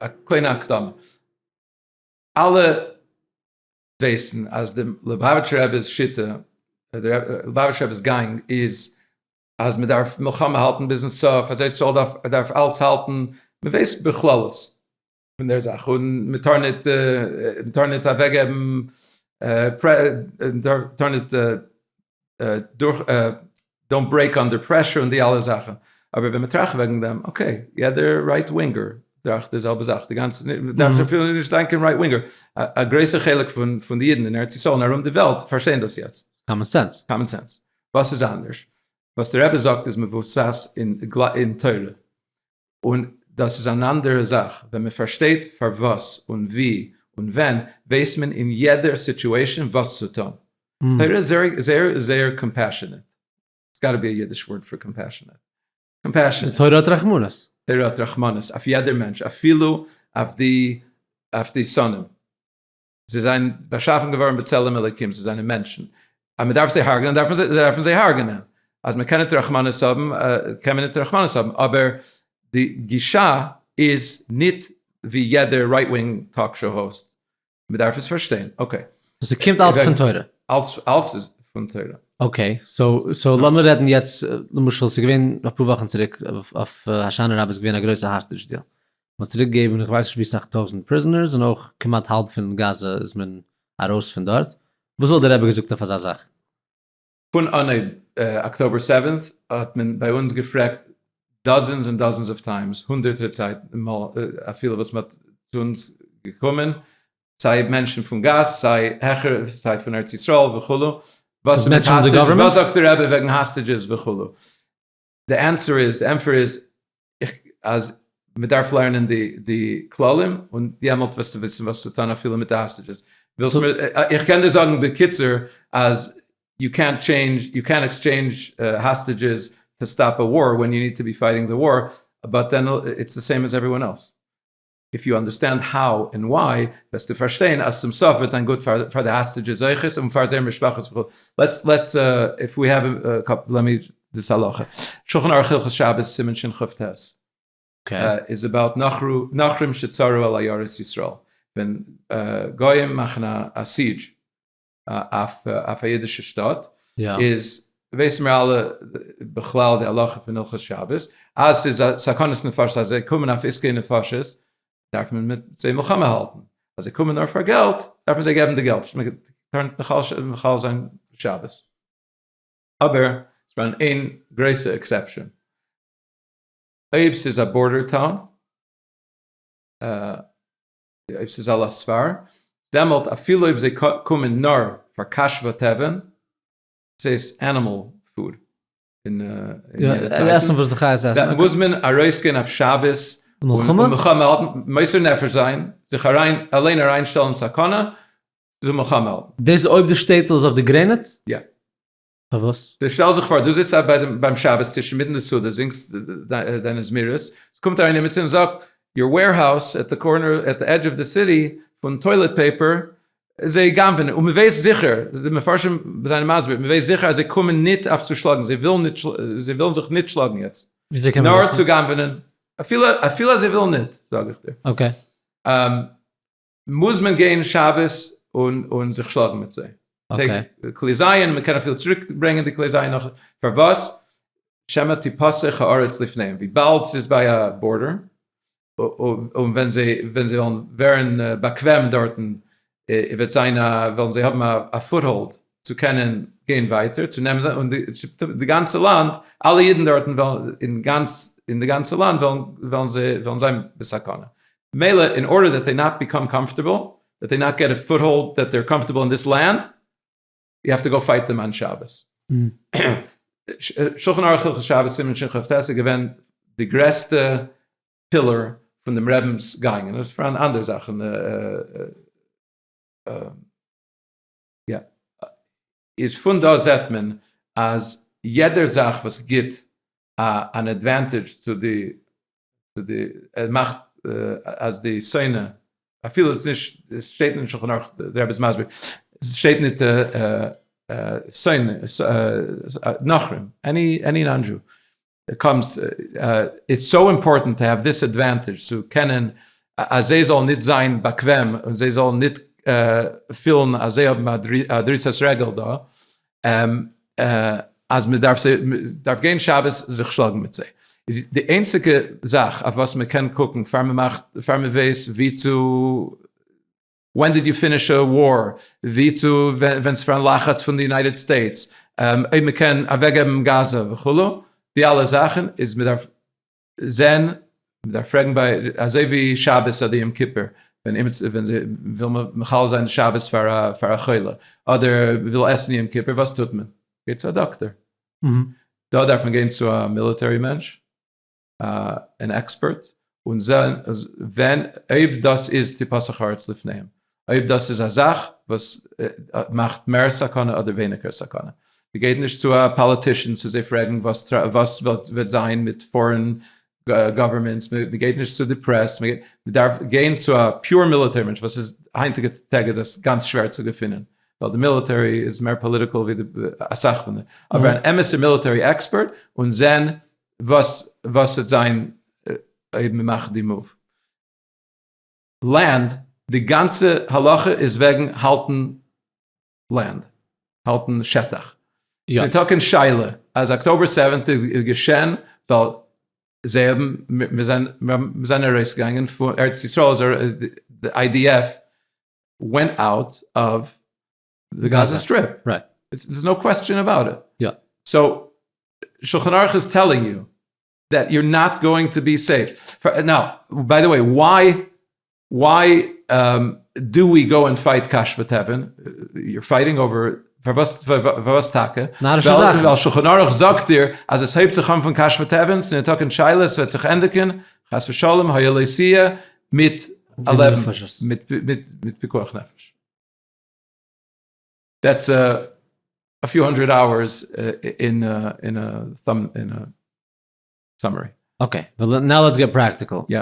א קליינע הקדמה, אלע ווייסן אז דעם ליובאוויטשער רבי'ס שיטה, ליובאוויטשער רבי'ס גאנג איז אז מען דארף מלחמה האלטן ביזן סוף, אז ארץ ישראל דארף דארף אלץ האלטן, מען ווייסט בכללות פון דער זאך און מען טאר ניט מען טאר ניט אוועקגעבן מען טאר ניט דאונט ברעיק אנדער פרעשור און די אלע זאכן, אבער ווען מען טראכט וועגן דעם, אקעי, יעדער רייט ווינגער טראכט די זעלבע זאך, די גאנצע, דארף אפילו נישט זיין קיין רייט ווינגער, א גרויסע חלק פון די אידן אין ארץ ישראל און ארום די וועלט פארשטייען דאס יעצט. קאמאן סענס. קאמאן סענס. וואס איז אנדערש? וואס די רבי זאגט איז מבוסס אין תורה. און דאס איז אן אנדערע זאך, ווען מען פארשטייט פארוואס און ווי און ווען, ווייסט מען אין יעדע סיטועשאן וואס צו טון. תורה איז זייער זייער קאמפעשענעט. ס'האט גאטע בי א אידיש ווארד פאר קאמפעשענעט. קאמפעשענעט. תורה האט רחמנות. תורה האט רחמנות אויף יעדער מענטש, אפילו אויף די שונאים. זיי זענען באשאפן געווארן בצלם אלקים, זיי זענען מענטשן, אז מען דארף זיי הרג'נען דארף מען זיי דארף מען זיי הרג'נען, אז מען קען ניט רחמנות האבן קען מען ניט רחמנות האבן, אבער די גישה איז ניט ווי יעדער רייט ווינג טאלק שאו האוסט, מען דארף עס פארשטיין, אקעי. סאו ס'קומט אלץ פון תורה? אלץ אלץ איז פון תורה. אקעי, סאו סאו לאמיר רעדן יעצט, למשל ס'איז געווען אפאר וואכן צוריק אויף הושענה רבה איז געווען א גרויסע האסטידזש דיעל, מען האט צוריק געגעבן איך ווייס נישט ווי סאך טויזענט פריזענערס און אויך כמעט האלב פון גאזע איז מען ארויס פון דארט, וואס וואלט דער רבי געזאגט אויף אזא זאך? פון אנהייב אקטאבער סעווענט האט מען ביי אונז געפרעגט דאזענס און דאזענס אוו טיימס, הונדערטער צייט מאל אפילו וואס מען האט צו אונז געקומען, סיי מענטשן פון גאס, סיי העכער, סיי פון ארץ ישראל וכו', וואס איז מיט האסטעדזשעס, וואס זאגט דער רבי וועגן האסטעדזשעס וכו', די ענטפער איז, די ענטפער איז, אז מען דארף לערנען די כללים, און דעמאלט וועסטו וויסן וואס צו טון אפילו מיט די האסטעדזשעס. איך קען דיר זאגן בקיצור, אז יו קענט טשעינדזש, יו קענט עקסטשעינדזש האסטעדזשעס טו סטאפ א וואר, ווען יו ניד טו בי פייטינג די וואר, באט דען איטס די סעים עז עוועריוואן עלס. איף יו אנדערסטענד האו ענד וויי וועסטו פארשטיין אז צום סוף וועט זיין גוט פאר די האסטעדזשעס אויכעט און פאר זייער משפחות וכו'. לעטס לעטס איף ווי העוו א קאפל לעמי דאס הלכה. שלחן ערוך הלכות שבת סימן שין כב ט איז אבאוט נוכרים שצרו על עיירות ישראל ווען גויים מאכן א סיעדזש. אויף א אידישע שטאט, איז ווייסן מיר אלע בכלל די הלכה פון הלכות שבת, אז ס'איז א סכנת נפשות אז זיי קומען אויף עסקי נפשות, דארף מען מיט זיי מלחמה האלטן, אז זיי קומען נאר פאר געלט, דארף מען זיי געבן די געלט, מען טאר נישט מחלל זיין שבת. אבער ס'איז דא איין גרויסע עקסעפשאן, אויב ס'איז א בארדער טאון, אויב ס'איז על הספר, דעמאלט אפילו אויב זיי קומען נאר פאר קאשבא טעווען, ס'איז ענימעל פוד, עסן וואס די חיות עסן, דאן מוז מען ארויסגיין אויף שבת מלחמה, מוסר נפש זיין, זיך אליין אריינשטעלן אין סכנה, צו מלחמה האלטן. דאס איז אויב די שטעטל איז אויף די גרעניץ? יא. פארוואס? שטעל זיך פאר דו זיצט ביים שבת טיש אינמיטן די סעודה זינגסט דיינע זמירות, עס קומט אריין עמיצער און זאגט יור וועירהאוז עט די קארנער עט די עדזש אוו די סיטי פון טוילעט פעיפער זיי גנב'ענען, און מען ווייסט זיכער, די מפרשים זענען מסביר, מען ווייסט זיכער אז זיי קומען ניט אויף צו שלאגן, זיי ווילן זיך ניט שלאגן יעצט, נאר צו גנב'ענען, אפילו אז זיי ווילן ניט, זאג איך דיר. אקעי. מוז מען גיין שבת און זיך שלאגן מיט זיי. כלי זין, מ'קען אפילו צוריק ברענגען די כלי זין נאך, פארוואס? שמא תיפסח הארץ לפניהם, וויבאלד ס'איז ביי א בארדער, און ווען זיי וועלן ווערן באקוועם דארטן, וועט זיין א, וועלן זיי האבן א פוטהאלד צו קענען גיין ווייטער, צו נעמען, און די גאנצע לאנד, אלע אידן דארטן וועלן, אין די גאנצע לאנד וועלן זיי, וועלן זיין בסכנה. מילא אין ארדער דעט דעי נאט ביקאם קאמפארטעבל, דעט דעי נאט געט א פוט האלד, דעט דעיר קאמפארטעבל אין דיס לענד, יו העוו טו גאו פייט דעם אן שבת. שלחן ערוך הלכות שבת סימן שכ ט איז געווען די גרעסטע פילער פון דעם רעבינס גאנג און עס איז פארהאן אנדערע זאכן. איז פון דא זעט מען אז יעדער זאך וואס גיט אן עדווענטעדזש צו די צו די מאכט אז די שונא אפילו עס נישט עס שטייט אין שלחן ערוך די רבי איז מסביר עס שטייט ניט שונא נאכרים עני עני נאן דזשו קומסט, איטס סאו אימפארטענט טו העוו דיס עדוואנטעדזש, צו קענען אז זיי זאלן נישט זיין באקוועם און זיי זאלן נישט פילן אז זיי האבן א דריסת רגל דא, אז מען דארף גיין שבת זיך שלאגן מיט זיי. די איינציגע זאך אויף וואס מען קען קוקן פאר מען מאכט, פאר מען ווייסט ווי צו. ווען דיד יו פיניש א וואר? ווי צו ווען ס'איז פארהאן לחץ פון די יונייטעד סטעיטס אויב מ'קען אוועקגעבן גאזא וכו', די אלע זאכן איז מ'דארף זעהן, מ'דארף פרעגן ביי אזוי ווי שבת אדער יום כיפור ווען אימער וויל מען מחלל זיין שבת פאר א חולה אדער מ'וויל עסן יום כיפור וואס טוט מען? גייט צו א דאקטער. דא דארף מען גיין צו א מיליטערי מענטש. אן עקספערט און זען ווען אויב דאס איז טיפה שחרית לפניהם, אויב דאס איז א זאך וואס מאכט מער סכנה אדער ווייניגער סכנה. מ'גייט נישט צו א פאליטישאן צו זיי פרעגן וואס וועט זיין מיט פארען גאווערמענטס, מ'גייט נישט צו די פרעס, מ'דארף גיין צו א פיור מיליטערי מענטש וואס איז היינטיגע טעג איז דאס גאנץ שווער צו געפינען ווייל די מיליטערי איז מער פאליטיקעל ווי אסאך פון די, אבער אן אמת'ע מיליטערי עקספערט און זען וואס וואס וועט זיין אויב מען מאכט די מאוו? לענד, די גאנצע הלכה איז וועגן האלטן לענד, האלטן שטח. ס'איז טאקע אין שאלה אז אקטאבער סעווענט איז געשען ווייל זיי האבן, מיר זענען, מיר זענען ארויסגעגאנגען פון ארץ ישראל, די איי די עף ווענט אוט אוו די גאזא סטריפ, רייט, דערס נאו קוועסטשען אבאוט איט, יא, סאו שלחן ערוך איז טעללינג יו דעט יור נאט גאוינג טו בי סעיף, נאו, ביי די וועי וואי וואי דו ווי גאו און פייט קש ותבן, יור פייטינג אווער, פארוואס טאקע? נארישע זאכן, ווייל שלחן ערוך זאגט דיר אז עס הייבט זיך אן פון קש ותבן, ס'איז ניטאקע אין שאלה אז ס'וועט זיך ענדיגן חס ושלום היה לא סייע מיט א לעבן מיט פיקוח נפש. דעטס א פיו האנדרעד אווערס אין א סאמערי. אקעי, נאו לעטס געט פראקטיקל. יא.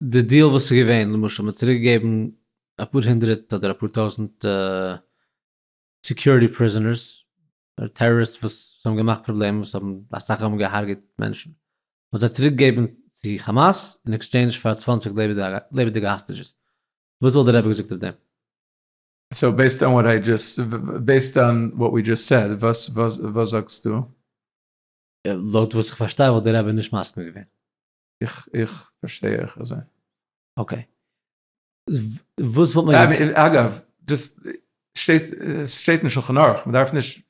די דיעל וואס איז געווען, למשל מ'האט צוריק געגעבן אפאר הונדרעט אדער אפאר טויזנט סעקיוריטי פריזענערס, אדער טעראריסט וואס האבן געמאכט פראבלעמען, וואס האבן אסאך האבן געהארגעט מענטשן, מ'האט זיי צוריק געגעבן צו כאמאס אין עקסטשעינדזש פאר צוואַנציק לעבעדיגע האסטעדזשעס. וואס וואלט די רבי געזאגט אויף דעם? סאו בעיסד אן וואט איי דזשאסט, בעיסד אן וואט ווי דזשאסט סעד, וואס זאגסטו? לויט וואס איך פארשטיי וואלט די רבי נישט מסכים געווען. איך פארשטיי אויך אזוי. אקעי. וואס וואלט מען געטון? אגב, דזשאסט שטייט עס שטייט אין שלחן ערוך, מען דארף נישט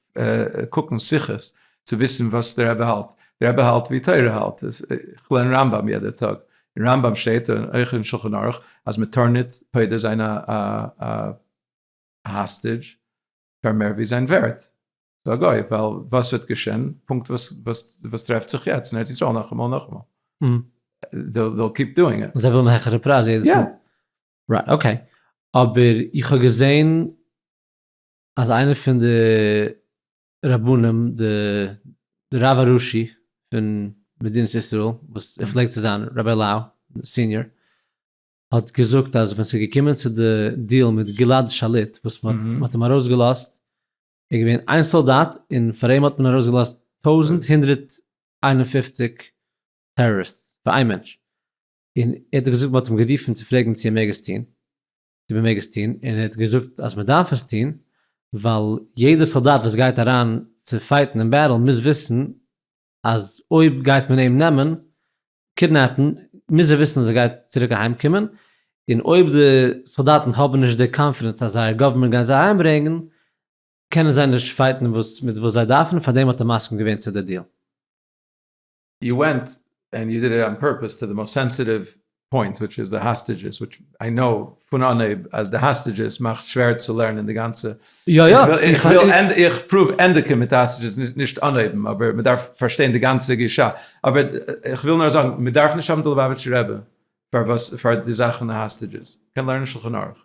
קוקן שיחות צו וויסן וואס דער רבי האלט, דער רבי האלט ווי תורה האלט, איך לערן רמב ם יעדע טאג, אין רמב ם שטייט און אויך אין שלחן ערוך אז מען טאר ניט פודה זיין א האסטידזש פאר מער ווי זיין ווערט צו א גוי, ווייל וואס וועט געשען, פונקט וואס טרעפט זיך יעצט אין ארץ ישראל נאכאמאל נאכאמאל, זיי ווילן העכערע פרייז יעדעס מאל. רייט אקעי, אבער איך האב געזען אז איינער פון די רבנים די די רב הראשי פון מדינת ישראל וואס ער פלעגט צו זיין רבי לאו סיניאר האט געזאגט אז ווען ס'איז געקומען צו די דיעל מיט גלעד שליט וואס מ'האט מ'האט אים ארויסגעלאזט ער איז געווען איין סאלדאט און פאר אים האט מען ארויסגעלאזט טויזנט הונדערט איין און פופציג טעראריסטס פאר איין מענטש און ער האט געזאגט מ'האט אים גערופן צו פרעגן צו ער מעג עס טון, צו מ'מעג עס טון, און ער האט געזאגט אז מ'דארף עס טון, ווייל יעדער סאלדאט וואס גייט אריין צו פייטן אין בעטל מוז וויסן אז אויב גייט מען אים נעמען, קידנעפן, מוז ער וויסן אז ער גייט צוריק אהיים קומען, און אויב די סאלדאטן האבן נישט די קאנפידענס אז זייער גאווערמענט גייט זיי אהיימברענגן, קענען זיי נישט פייטן וואס מיט וואס זיי דארפן, פארדעם האט ער מסכים געווען צו די דיעל. יו ווענט ענד יו דיד איט אן פורפעס טו די מאסט סענסיטיוו פוינט וויטש איז די האסטעדזשעס וויטש איי קנאו פון אנהייב אז די האסטעדזשעס מאכט שווער צו לערנען די גאנצע יא יא איך וויל איך פרואוו ענדיגען מיט די האסטעדזשעס נישט אנהייבן אבער מען דארף פארשטיין די גאנצע גישה אבער איך וויל נאר זאגן מען דארף נישט האבן די ליובאוויטשער רבי פארוואס פאר די זאכן האסטעדזשעס קען לערנען שלחן ערוך.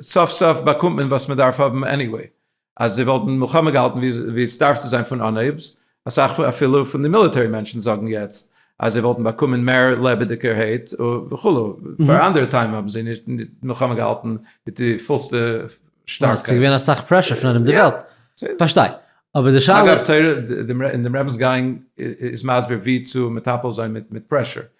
סוף סוף באקומט מען וואס מען דארף האבן עניוועי, אז זיי וואלטן מלחמה געהאלטן ווי סדארף צו זיין פון אנהייב, אסאך אפילו פון די מיליטערי מענטשן זאגן יעצט אז זיי וואלטן באקומען מער לעבעדיגערהייט וכו', פאר אנדערע טיים האבן זיי נישט מלחמה געהאלטן מיט די פולסטע שטארקייט. ס'איז געווען אסאך פרעשור פון ארום די וועלט, פארשטיי, אבער די שאלה. אגב, תורה און די רמב ם איז מסביר ווי צו מטפל זיין מיט פרעשור,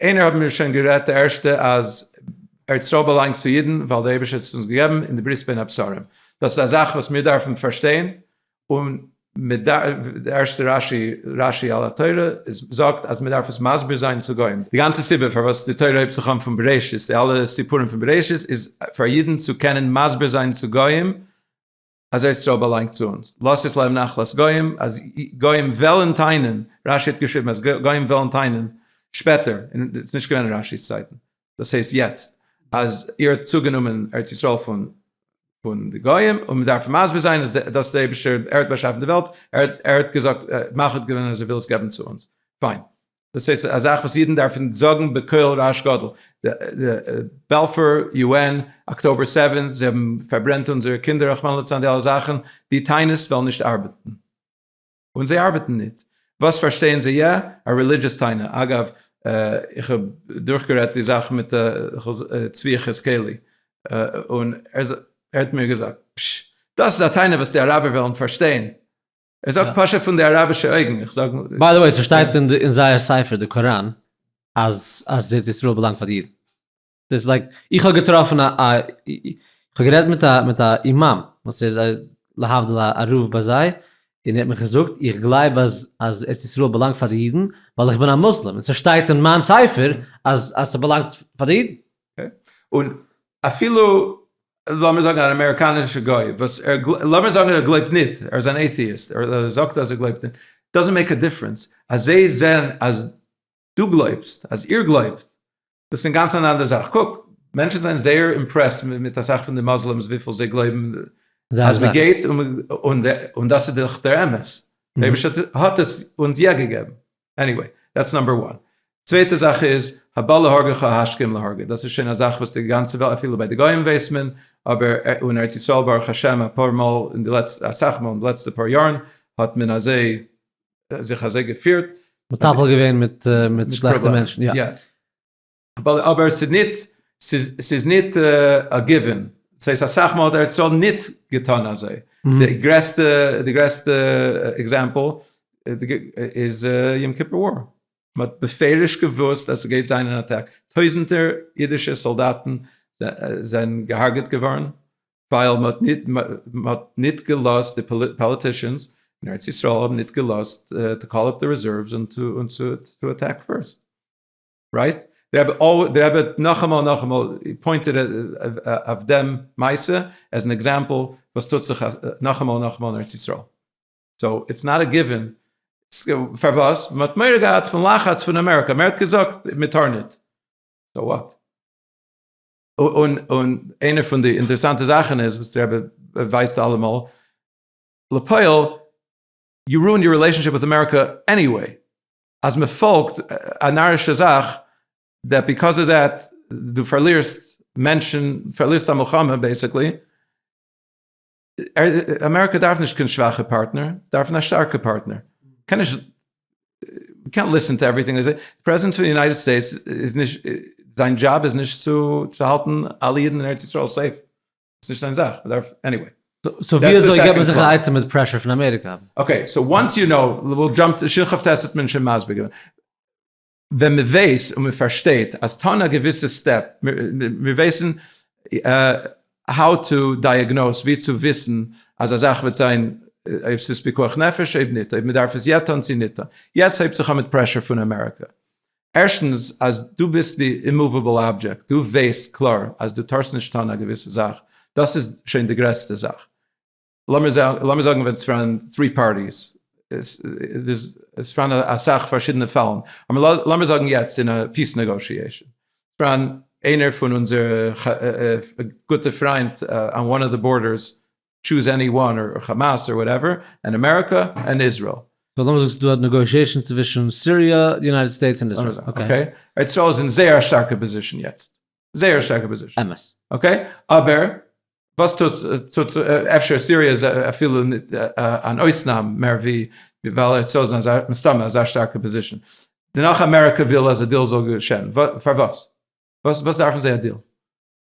איינער האט מיר שוין גערעדט די ערשטע אז ארץ ישראל באלאנגט צו אידן ווייל דער אייבערשטער האט עס אונז געגעבן אין די ברית בין הבשרים, דאס איז א זאך וואס מיר דארפן פארשטיין, און די ערשטע רשי, רשי על התורה, זאגט אז מען דארף עס מסביר זיין צו גוים, די גאנצע סיבה פארוואס די תורה הייבט זיך אן פון בראשית, די אלע סיפורים פון בראשית איז פאר אידן צו קענען מסביר זיין צו גוים אזוי איז ס'איז באלאנגט צו אונז, לאזט עס לעבן נחלת גוים, אז גוים וועלן טענה'ן, רשי האט געשריבן אז גוים וועלן טענה'ן שפעטער, און ס'איז נישט געווען אין רשי'ס צייטן, דאס הייסט יעצט, אז איר האט צוגענומען ארץ ישראל פון פון די גוים, און מ'דארף מסביר זיין אז דאס איז דער אייבישטער, ער האט באשאפן די וועלט, ער האט געזאגט, מח האט געווען אז ער וויל עס געבן צו אונז, פיין, דאס איז א זאך וואס אידן דארפן זאגן בקול רעש גדול, בעלפור, יו ען, אקטאבער סעווען, זיי האבן פארברענט אונזערע קינדער רחמנא לצלן די אלע זאכן, די טענות וועלן נישט ארבעטן, און זיי ארבעטן ניט, וואס פארשטייען זיי איא? א רעלידזשעס טענה, אגב איך האב דורכגערעדט די זאך מיט צבי יחזקאלי און ער האט מיר געזאגט, פשש, דאס איז א טענה וואס די אראבער וועלן פארשטיין, ער זאגט פשט פון די אראבישע אויגן, איך זאג. ביי די וועי, ס'שטייט אין זייער ספר די קוראן אז אז ארץ ישראל באלאנגט פאר די אידן. דאס לייק, איך האב געטראפן א א, איך האב גערעדט מיט א מיט א אימאם וואס איז להבדיל א רב ביי זיי, און ער האט מיך געזאגט איך גלייב אז אז ארץ ישראל באלאנגט פאר די אידן, ווייל איך בין א מוסלים, און ס'שטייט אין מיין ספר אז אז ס'באלאנגט פאר די אידן. און אפילו לאמיר זאגן אן אמעריקאנישע גוי וואס ער גלויבט, לאמיר זאגן ער גלויבט ניט, ער איז אן עיטיאיסט, ער זאגט אז ער גלויבט ניט, דאזענט מעיק א דיפרענס, אז זיי זעען אז דו גלויבסט, אז איר גלויבט, דאס איז אינגאנצן אן אנדערע זאך, קוק, מענטשן זענען זייער אימפרעסד מיט אסאך פון די מוסלימס וויפיל זיי גלויבן אז מען גייט, און דאס איז דאך דער אמת, דער אייבערשטער האט עס אונז יא געגעבן. עניוועי, דעטס נאמבער וואן. צווייטע זאך איז, הבא להורגך השכם להורגו, דאס איז שוין א זאך וואס די גאנצע וועלט, אפילו ביי די גוים ווייסט מען, אבער און ארץ ישראל ברוך השם אפאר מאל אין די לעצטע, אסאך מאל אין די לעצטע פאר יארן, האט מען אזוי, זיך אזוי געפירט. מטפל געווען מיט שלעכטע מענטשן, יא. אבער ס'איז ניט א גיווען. ס'איז הייסט אסאך מאל האט ר צ ניט געטאן אזוי. די גרעסטע די גרעסטע עקזעמפל איז יום כיפור וואר. מ'האט בפירוש געוואוסט אז ס'גייט זיין אן אטאק. טויזענטער אידישע סאלדאטן זענען געהארגעט געווארן ווייל מ'האט ניט געלאזט די פאליטישאנס אין ארץ ישראל האבן ניט געלאזט טו קאל אפ די רעזערוועס און טו אטעק פירסט. רייט? דער רבי אל, דער רבי האט נאכאמאל און נאכאמאל פוינטעד אויף דעם מעשה עז אן עקזעמפל וואס טוט זיך נאכאמאל און נאכאמאל אין ארץ ישראל. סאו איטס נאט א גיווען. פארוואס? מען האט מורא געהאט פון לחץ פון אמעריקא, מען האט געזאגט מען טאר ניט. סאו וואט? און און איינער פון די אינטערעסאנטע זאכן איז וואס דער רבי ווייזט אלעמאל, לפועל יו רואינד יור רילעישאנשיפ וויט אמעריקא עניוועי, אז מען פאלגט א נארישע זאך דעט ביקאוז אוו דעט דו פארלירסט מענטשן, פארלירסט א מלחמה בעסיקלי, אמעריקא דארף נישט קיין שוואכע פארטנער, זיי דארפן א שטארקע פארטנער, קען נישט, יו קענט ליסען טו עווריטינג זיי זעי, פרעזידענט פון די יונייטעד סטעיטס איז נישט, זיין דזשאב איז נישט צו האלטן אלע אידן אין ארץ ישראל סעיף, ס'איז נישט זיין זאך, מ'דארף, עניוועי. סאו ווי אזוי געט מען זיך א עצה מיט פרעשור פון אמעריקא? אקעי, סאו וואנס יו קנאו, וויל דזשאמפ די שכח טעסט האט מען שוין מסביר געווען. ווען מ'ווייס און מ'פארשטייט אז טון א געוויסע סטעפ, מיר ווייסן האו טו דייעגנאוס, ווי צו וויסן אז א זאך וועט זיין, אויב ס'איז פיקוח נפש אויב ניט, אויב מ'דארף עס יעצט טון צו ניט טון. יעצט הייבט זיך אן מיט פרעשור פון אמעריקא. ערשטנס אז דו ביסט די אימאוועבל אבדזשעקט, דו ווייסט קלאר אז דו טארסט נישט טון א געוויסע זאך, דאס איז שוין די גרעסטע זאך. לאמיר זאגן ווען עס פארן טרי פארטיס, עס פארן אסאך פארשידענע פאלן, אבער לאמיר זאגן יעצט אין א פיס נעגאושיעישן, עס פארן איינער פון אונזערע גוטע פריינט אן וואן אוו די בארדערס טשוז עני וואן אר כאמאס אר וואטעווער ענד אמעריקא ענד איזרעיל. סאו למה זאגסטו דא נעגאושעישאנס צווישן סיריע די יונייטעד סטעיטס און איזרעיל אקעי. ארץ ישראל איז אין זייער א שטארקע פאזישן יעצט זייער שטארקע פאזישן. אמת. אקעי אבער וואס טוט טוט אפשר סיריע איז אפילו אן אויסנאם מער ווי ווייל ארץ ישראל איז אין מסתמא אזא שטארקע פאזישן דערנאך אמעריקא וויל אז א דיל זאל געשען פארוואס וואס דארפן זיי א דיל.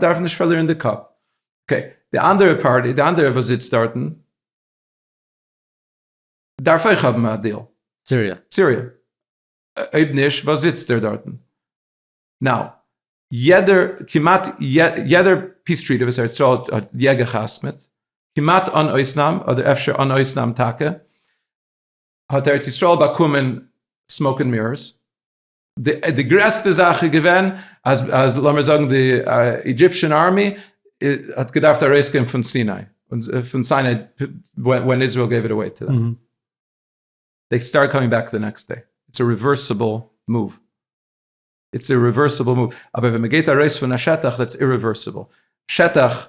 דארף נישט פארלירן די קאפ. אקעי, די אנדערע פארטי, די אנדערע וואס זיצט דארטן, דארף אויך האבן א דיל. סיריע. סיריע. אויב נישט, וואס זיצט ער דארטן? נאו. יעדער, כמעט יעדער פיס טריטער וואס ארץ ישראל האט יע געחתמ'עט, כמעט אן אויסנאם, אדער אפשר אן אויסנאם טאקע, האט ארץ ישראל באקומען סמאוק ענד מירערס. די גרעסטע זאך איז געווען אז לאמיר זאגן די אידזשיפשען ארמי האט געדארפט ארויסגיין פון סיני, פון סיני ווען איזראעל געיוו איט אוועי טו דעם. זיי סטארטעד קאמינג בעק די נעקסט דעי. איטס א ריווערסיבל מאוו. איטס א ריווערסיבל מאוו. אבער ווען מ'גייט ארויס פון א שטח דעטס אירווערסיבל. שטח.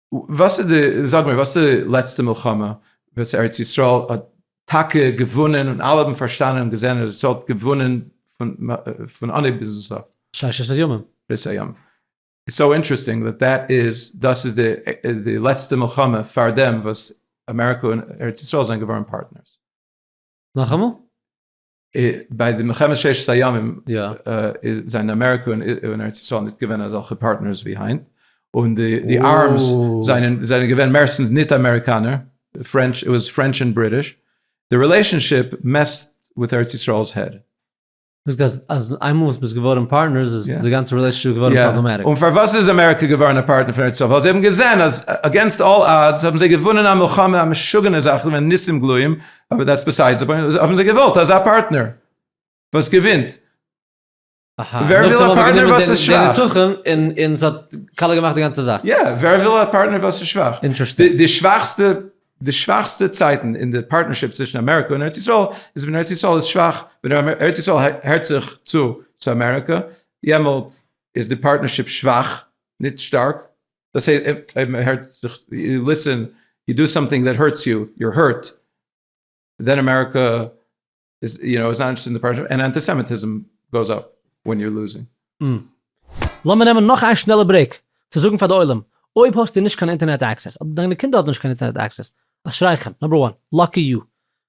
וואס איז די, זאג מיר, וואס איז די לעצטע מלחמה וואס ארץ ישראל האט טאקע געוואונען און אלע האבן פארשטאנען און געזען ארץ ישראל האט געוואונען פון אנהייב ביזן סוף? ששת הימים. ששת הימים. איטס סאו אינטערעסטינג דאט דעט איז, דאס איז די לעצטע מלחמה פאר דעם וואס אמעריקא און ארץ ישראל זענען געווארן פארטנערס. נאכאמאל? ביי די מלחמת ששת הימים זענען אמעריקא און ארץ ישראל נישט געווען אזעלכע פארטנערס ווי היינט, און די ארמס זענען געווען מערסטנס נישט אמעריקאנער, פרענטש, איט וואס פרענטש און בריטיש, די רילעישאנשיפ מעסט וויט ארץ ישראל'ס העד. דו זאגסט אז איינמאל וואס מ'איז געווארן פארטנערס איז די גאנצע רילעישאנשיפ געווארן פראבלעמעטיק. און פארוואס איז אמעריקא געווארן א פארטנער פון ארץ ישראל? ווייל זיי האבן געזען אז אגעינסט אלל אדס האבן זיי געוואונען א מלחמה, א משוגענע זאך, ס'איז געווען ניסים גלויים, אבער דעטס ביסיידס די פוינט, האבן זיי געוואלט אזא פארטנער וואס געווינט, אהא, ווער וויל א פארטנער וואס איז שוואך? נאכדעם האבן זיי גענומען דעם נצחון און ס'האט קאלער געמאכט די גאנצע זאך. יא, ווער וויל א פארטנער וואס איז שוואך? אינטערעסטינג. די שוואכסטע, די שוואכסטע צייטן אין די פארטנערשיפ צווישן אמעריקא און ארץ ישראל איז ווען ארץ ישראל איז שוואך, ווען ארץ ישראל הערט זיך צו צו אמעריקא, יעמאלט איז די פארטנערשיפ שוואך, נישט שטארק. דאס הייסט אויב מען הערט זיך, יו ליסען, יו דא סאמטינג דעט הערטס יו, יור הערט, דען אמעריקא איז יו נאו איז נאט אינטערעסטעד אין די פרשה, און אנטיסעמיטיזם גאוס אפ ווען יור לוזינג. און לאמיר נעמען נאך איין שנעלע ברעיק צו זאגן פאר די עולם, אויב האסטו נישט קיין אינטערנעט עקסעס, אדער דיינע קינדער האבן נישט קיין אינטערנעט עקסעס, אשריכם, נאמבער וואן, לאקי יו,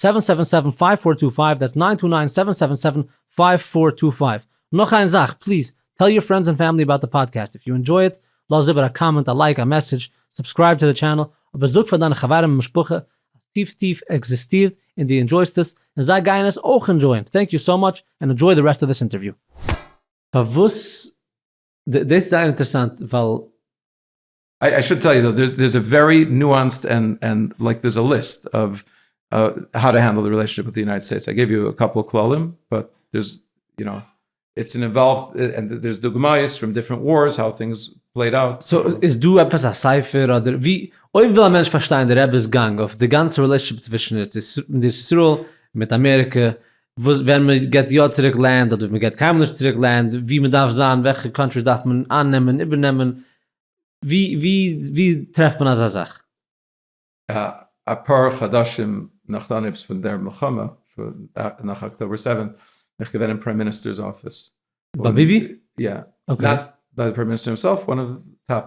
סעווען סעווען סעווען פייוו פאר טו פייוו דעטס ניין טו ניין סעווען סעווען סעווען פייוו פאר טו פייוו נאך איין זאך פליז טעל יור פרענדס ענד פעמילי אבאוט די פאדקעסט איף יו ענדזשוי איט לאז איבער א קאמענט א לייק א מעסעדזש סובסקרייב טו די טשענעל אבער זאג פאר דיינע חברים און משפחה אז טיף טיף עקזיסטירט און דו ענדזשויסט עס און זיי גייען עס אויך ענדזשויען טענק יו סאו מאטש ענד ענדזשוי די רעסט אוו דיס אינטערוויו. פארוואס? דאס איז זייער אינטערעסאנט ווייל. איי שוד טעל יו דער איז א ווערי נואנסד ענד ענד לייק דערס א ליסט אוו האו טו הענדל די רילעישאנשיפ וויט די יונייטעד סטעיטס איי געוו יו א קאפל כללים באט דערס יו נאו איטס אן אינוואלווד ענד דערס דוגמאות פרום דיפרענט ווארס האו טינגס פלעיד אוט. סאו איז דא עפעס א ספר אדער ווי אויב וויל א מענטש פארשטיין די רבי'ס גאנג אויף די גאנצע רילעישאנשיפ צווישן ארץ ישראל מיט אמעריקע וואס ווען מען געט יא צוריק לענד אדער מען געט קיינמאל נישט צוריק לענד ווי מען דארף זיין וועלכע קאנטריס דארף מען אייננעמען איבערנעמען ווי טרעפט מען אזא זאך? אפאר חדשים נאך די אנהייבס פון דער מלחמה, נאך אקטאבער סעווען, בין איך געווען אין פריים מיניסטער'ס אפיס. ביי ביבי? יא. אקעי. ביי די פריים מיניסטער הימסעלף, וואן אוו טאפ,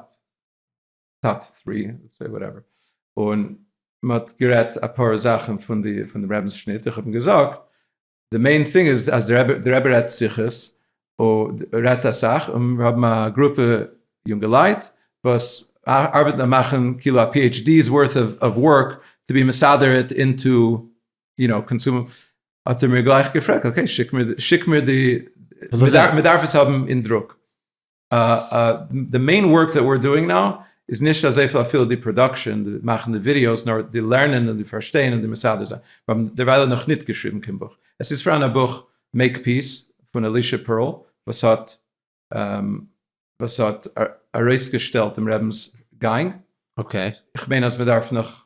טאפ טרי, סעי וואטעווער. און מ'האט גערעדט אפאר זאכן פון די רעבינ'ס שניט, איך האב אים געזאגט די מעין טינג איז אז די רבי רעדט שיחות, רעדט אסאך, און מיר האבן א גרופע יונגעלייט וואס ארבעטן און מאכן כאילו א PHD's worth of work to be מסדר it into you know קאנסומער, האט ער מיר גלייך געפרעגט, אקעי, שיק מיר די, מ'דארף עס האבן אין דרוק. די מעין ווארק דעט וויר דואינג נאו איז נישט אזויפיל אפילו די פראדאקשען, די מאכן די ווידיאוס, נאר די לערנען און די פארשטיין און די מסדר זיין. מיר האבן דערווייל נאך ניט געשריבן קיין בוך. עס איז פאראן א בוך מעיק פיס פון אלישע פערל וואס האט וואס האט ארויסגעשטעלט דעם רבינ'ס גאנג. אקעי. איך מיין אז מען דארף נאך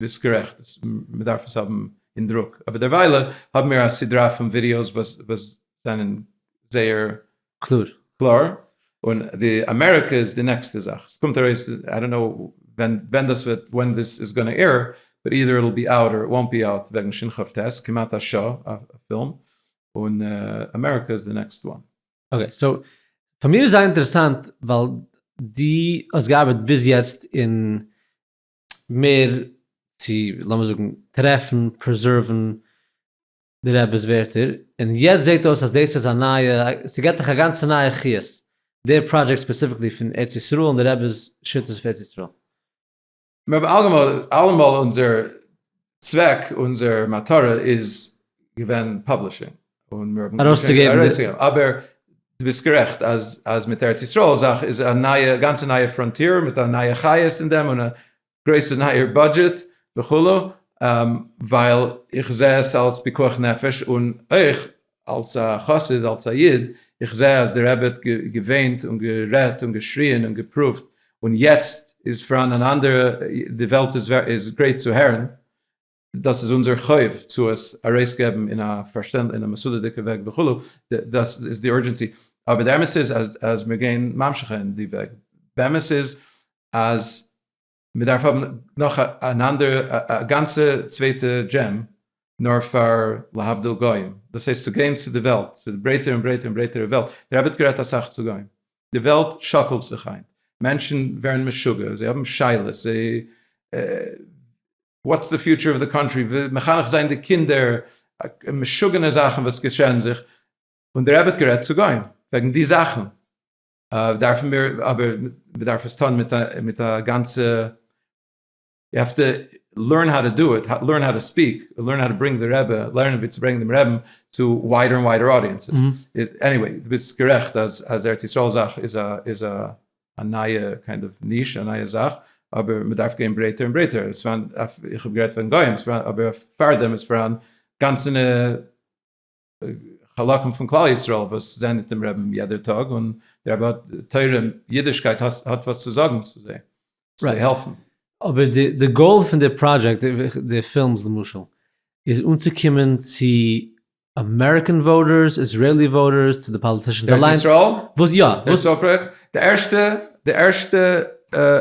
ביסט גערעכט, מען דארף עס האבן אין דרוק, אבער דערוויילע האבן מיר א סדרה פון ווידיאוס וואס זענען זייער קלאר, און די אמעריקא איז די נעקסטע זאך, עס קומט ארויס, איי דאנט נאו ווען דאס וועט, ווען דיס איז גאנא עיר, באט אידער איט וויל בי אוט אר איט וואונט בי אוט, וועגן שין כב ט, כמעט א שעה א פילם, און אמעריקא איז די נעקסט וואן. אקעי, סאו פאר מיר איז זייער אינטערעסאנט ווייל דו האסט געארבעט ביז יעצט אין מער צו לאמיר זאגן טרעפן פרעזערוון די רעבעס ווערטער און יעצט זעט אויס אז דאס איז א נייע ס'געט דיך א גאנצע נייע חיות דער פראדזשעקט ספעסיפיקלי פון ארץ ישראל און די רעבעס שיטות אויף ארץ ישראל. מיר האבן אלעמאל אונזער צוועק אונזער מטרה איז געווען פאבלישינג און מיר האבן ארויסצוגעבן ארויסצוגעבן אבער דו ביסט גערעכט אז אז מיט ארץ ישראל זאך איז א נייע גאנצע נייע פראנטיער מיט א נייע חיות אין דעם און א גרויסע נייער בודזשעט וכו' ווייל איך זעה עס אלס פיקוח נפש און אויך אלס א חסיד, אלס א איד, איך זעה אז די רבי האט געוויינט און גערעדט און געשריען און געפרואווט, און יעצט איז פאראן אן אנדערע, די וועלט איז גרייט צו הערן, דאס איז אונזער חוב צו עס ארויסגעבן אין א פארשטענדליכע, אין א מסודר'דיגע וועג וכו', דאס איז די אורדזשענסי, אבער די אמת איז אז מיר גייען ממשיך אין די וועג, באמת איז אז. מען דארף האבן נאך אן אנדערע א גאנצע צווייטע דזשים נאר פאר להבדיל גוים, דאס הייסט צו גיין צו די וועלט, צו די ברייטערע און ברייטערע און ברייטערע וועלט, דער רבי האט גערעדט אסאך צו גוים, די וועלט שאקלט זיך היינט, מענטשן ווערן משוגע, זיי האבן שאלות, זיי וואטס די פיוטשער אוו די קאנטרי, מחנך זיין די קינדער, משוגענע זאכן וואס געשען זיך, און דער רבי האט גערעדט צו גוים וועגן די זאכן. דארפן מיר אבער מ'דארף עס טון מיט א גאנצע, יו העוו טו לערן האו טו דו איט, לערן האו טו ספיעק, לערן האו טו ברענגן די רבי, לערנען ווי צו ברענגן דעם רעבן צו וויידער און וויידער אודיענסעס, עניוועי דו ביסט גערעכט אז אז ארץ ישראל זאך איז א איז א א נייע קיינד אוו ניש א נייע זאך, אבער מ'דארף גיין ברייטער און ברייטער, עס פארהאן, איך האב גערעדט וועגן גוים, אבער פארדעם איז פארהאן גאנצענע. חלקים פון כלל ישראל וואס זענען מיט דעם רעבען יעדער טאג און דער רבי האט תורה און אידישקייט האט וואס צו זאגען צו זיי צו העלפען. אבער די גאול פון די פראדזשעקט, די פילמס למשל, איז אנצוקומען צו אמעריקען וואוטערס, איזרעלי וואוטערס, צו די פאליטישאנס אליינס, וואס יא, וואס יא. די ערשטע די ערשטע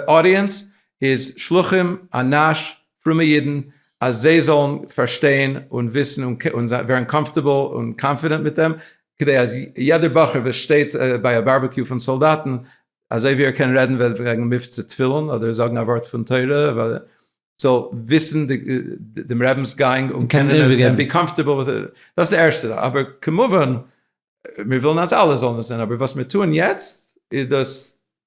אודיענס איז שלוחים אנש פרומע אידן אז זיי זאלן פארשטיין און וויסן און ווערן קאמפארטעבל און קאנפידענט מיט דעם, כדי אז יעדער בחור וואס שטייט ביי א בארבעקיו פון סאלדאטן, אזוי ווי ער קען רעדן וועגן מבצע תפילין אדער זאגן א ווארט פון תורה, זאל וויסן דעם רבינ'ס גאנג און קענען עס און בי קאמפארטעבל וויט איט. דאס איז די ערשטע זאך. אבער כמובן, מיר ווילן אז אלע זאלן עס זען, אבער וואס מיר טוען יעצט איז דאס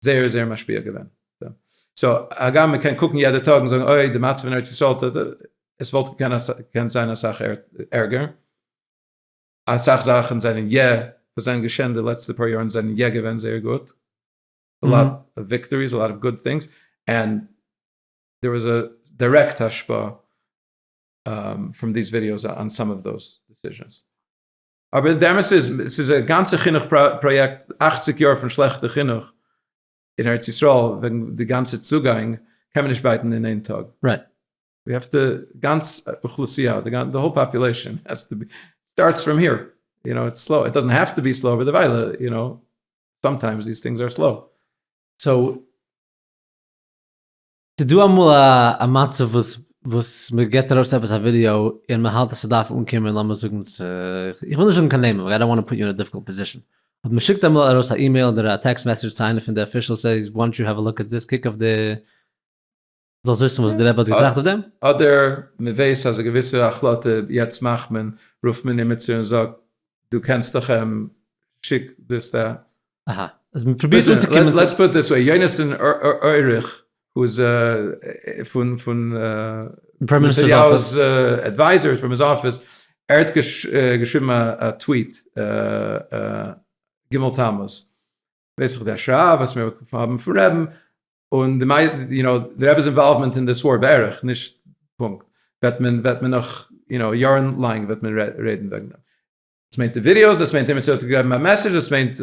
זייער זייער משפיע געווען. סאו הגם מען קען קוקן יעדע טאג און זאגן אוי די מצב אין ארץ ישראל, עס וואלט געקענט זיין אסאך ערגער, אסאך זאכן זענען יע, וואס זענען געשען די לעצטע פאר יארן זענען יע געווען זייער גוט, א לאט אוו וויקטאריס, א לאט אוו גוד טינגס, ענד דער וואס א דירעקט השפעה פראם דיס ווידיאוס אן סאם אוו דאס דיסיזשענס. אבער די אמת איז, ס'איז א גאנצע חינוך פראיעקט, אכציג יאר פון שלעכטע חינוך אין ארץ ישראל, וועגן די גאנצע צוגאנג, קען מען נישט בייטן אין איין טאג. רייט. די האסט די גאנץ אוכלוסייה, די האול פאפולעישאן האסט טו בי, סטארטס פראם העיר, יו נאו, איטס סלאו, איט דאזענט העוו טו בי סלאו אבער דערווייל, יו נאו, סאמטיימס דיס טינגס אר סלאו. סאו. ס'איז דא אמאל א מצב וואס וואס מען געבט ארויס עפעס א ווידיאו און מען האלט אז ס'דארף אנקומען לאמיר זאגן צו, איך וויל נישט זאגן קיין נעמען ווייל איי דאנט וואנט טו פוט יו אין א דיפיקולט פאזישאן, אבער מען שיקט אמאל ארויס א אימעיל אדער א טעקסט מעסעדזש צו איינער פון די אפישעלס העי וואנט יו העוו א לוק אט דיס, קוק אויף די, זאלסט וויסן וואס די רבי האט געטראכט אויף דעם. אדער מען ווייס אז א געוויסע החלטה יעצט מאכט מען, רופט מען עימיצער און זאגט דו קענסט דאך אים, שיק דאס דא, אהא, אז מען פרובירט אנצוקומען צו. לעטס פוט דיס וועי, יונתן אוריך וואס איז פון פון נתניהו'ס עדווייזערס פרום היז אפיס, ער האט געשריבן א טוויט ג' תמוז, ווייס איך די השראה וואס מיר האבן פון רעבן, און די מיידל, יו נאו, די רעבע'ס אינוואלוומענט אין דיס וואר בערך, נישט פונקט, וועט מען, וועט מען נאך, יו נאו, יארן לאנג וועט מען רעדן וועגן דעם. דאס מיינט די ווידיאוס, דאס מיינט אימיצער האט געגעבן א מעסעדזש, דאס מיינט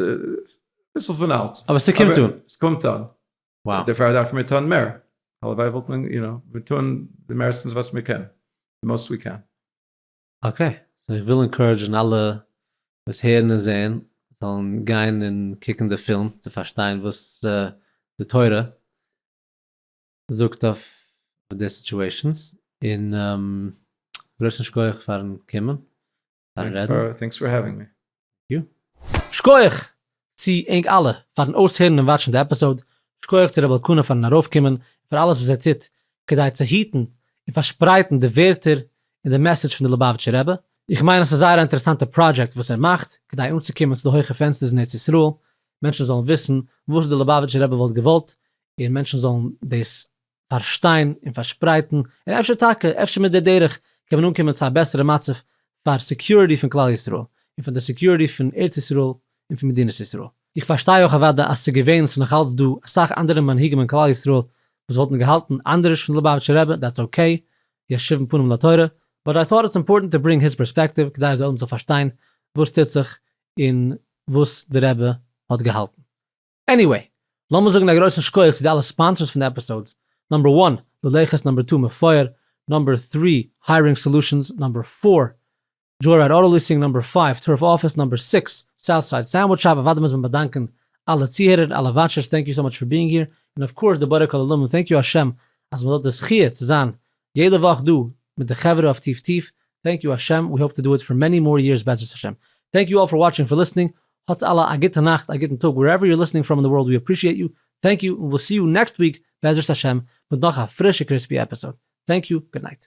אביסל פון אלץ. אבער ס'קומט אן. ס'קומט אן. וואו. דערפאר דארפן מיר טון מער. הלוואי וואלט מען, יו נאו, מיר טון די מערסטנס וואס מיר קענען. די מאוסט ווי קען. אקעי. סאו איך וויל אינקארעדזשן אלע וואס הערן און זעען זאלן גיין און קוקן די פילם צו פארשטיין וואס די תורה זאגט אויף די סיטועשאנס. און בלויז א שכוח פארן קומען. פארן רעדן. טענקס פאר העווינג מי. שקויעך צו ענק אלע פארן אויסהערן און וואטשן די עפיסאוד, שקויעך צו רבי אלקנה פארן ארויפקומען און פאר אלעס וואס ער טוט כדי צו היטן און פארשפרייטן די ווערטער און די מעסעדזש פון די ליובאוויטשער רבי, איך מיין אז ס'איז זייער א אינטערעסאנטע פראדזשעקט וואס ער מאכט כדי אנצוקומען צו די הויכע פענסטערס אין ארץ ישראל, מענטשן זאלן וויסן וואס די ליובאוויטשער רבי וואלט געוואלט און מענטשן זאלן דאס פארשטיין און פארשפרייטן, און אפשר טאקע, אפשר מיט די דרך קען מען אנקומען צו א בעסערע מצב פאר סעקיוריטי פון כלל ישראל, און פאר די סעקיוריטי פון ארץ ישראל און פון מדינת ישראל. איך פארשטיי אויך אוודאי אז ס'געווען און ס'נאך אלץ דא אסאך אנדערע מנהיגים אין כלל ישראל וואס וואלטן געהאלטן אנדערש פון די לובאוויטשער רבי, דעטס אקעי, ישובון פנים לתורה, באט איי טאט איטס אימפארטענט טו ברינג היז פערספעקטיוו כדי אז די עולם זאל פארשטיין וואס טוט זיך און וואס די רבי האט געהאלטן. עניוועי, לאמיר זאגן א גרויסן שכח צו די אלע ספאנסערס פון די עפיסאודס, נאמבער וואן, לולייכעס, נאמבער טו, מפואר, נאמבער טרי, הייערינג סאלושענס, נאמבער פאר, דזשאורייד אוטא ליסינג, נאמבער פייוו, טורף אפיס, נאמבער סיקס, סאוטסייד סענדוויטש שאפ, אוודאי מוז מען באדאנקען אלע צוהערער, אלע וואטשערס, טענק יו סאו מאטש פאר ביאינג העיר, און אויף קאורס די בורא כל עולמים, טענק יו השם אז מען האט די זכיה צו זיין יעדע וואך דא מיט די חברה אויף טיף טיף, טענק יו השם, ווי האופ טו דא איט פאר מעני מאר יערס בעזרת השם. טענק יו אלל פאר וואטשינג פאר ליסטנינג, האטס אלע א גוטע נאכט א גוטן טאג ווערעווער יור ליסטנינג פראם אין די ווארלד ווי אפרישיעט יו, טענק יו, און וויל סי יו נעקסט וויק בעזרת השם מיט נאך א פרישע קריספי עפיסאוד, טענק יו, גוד נייט.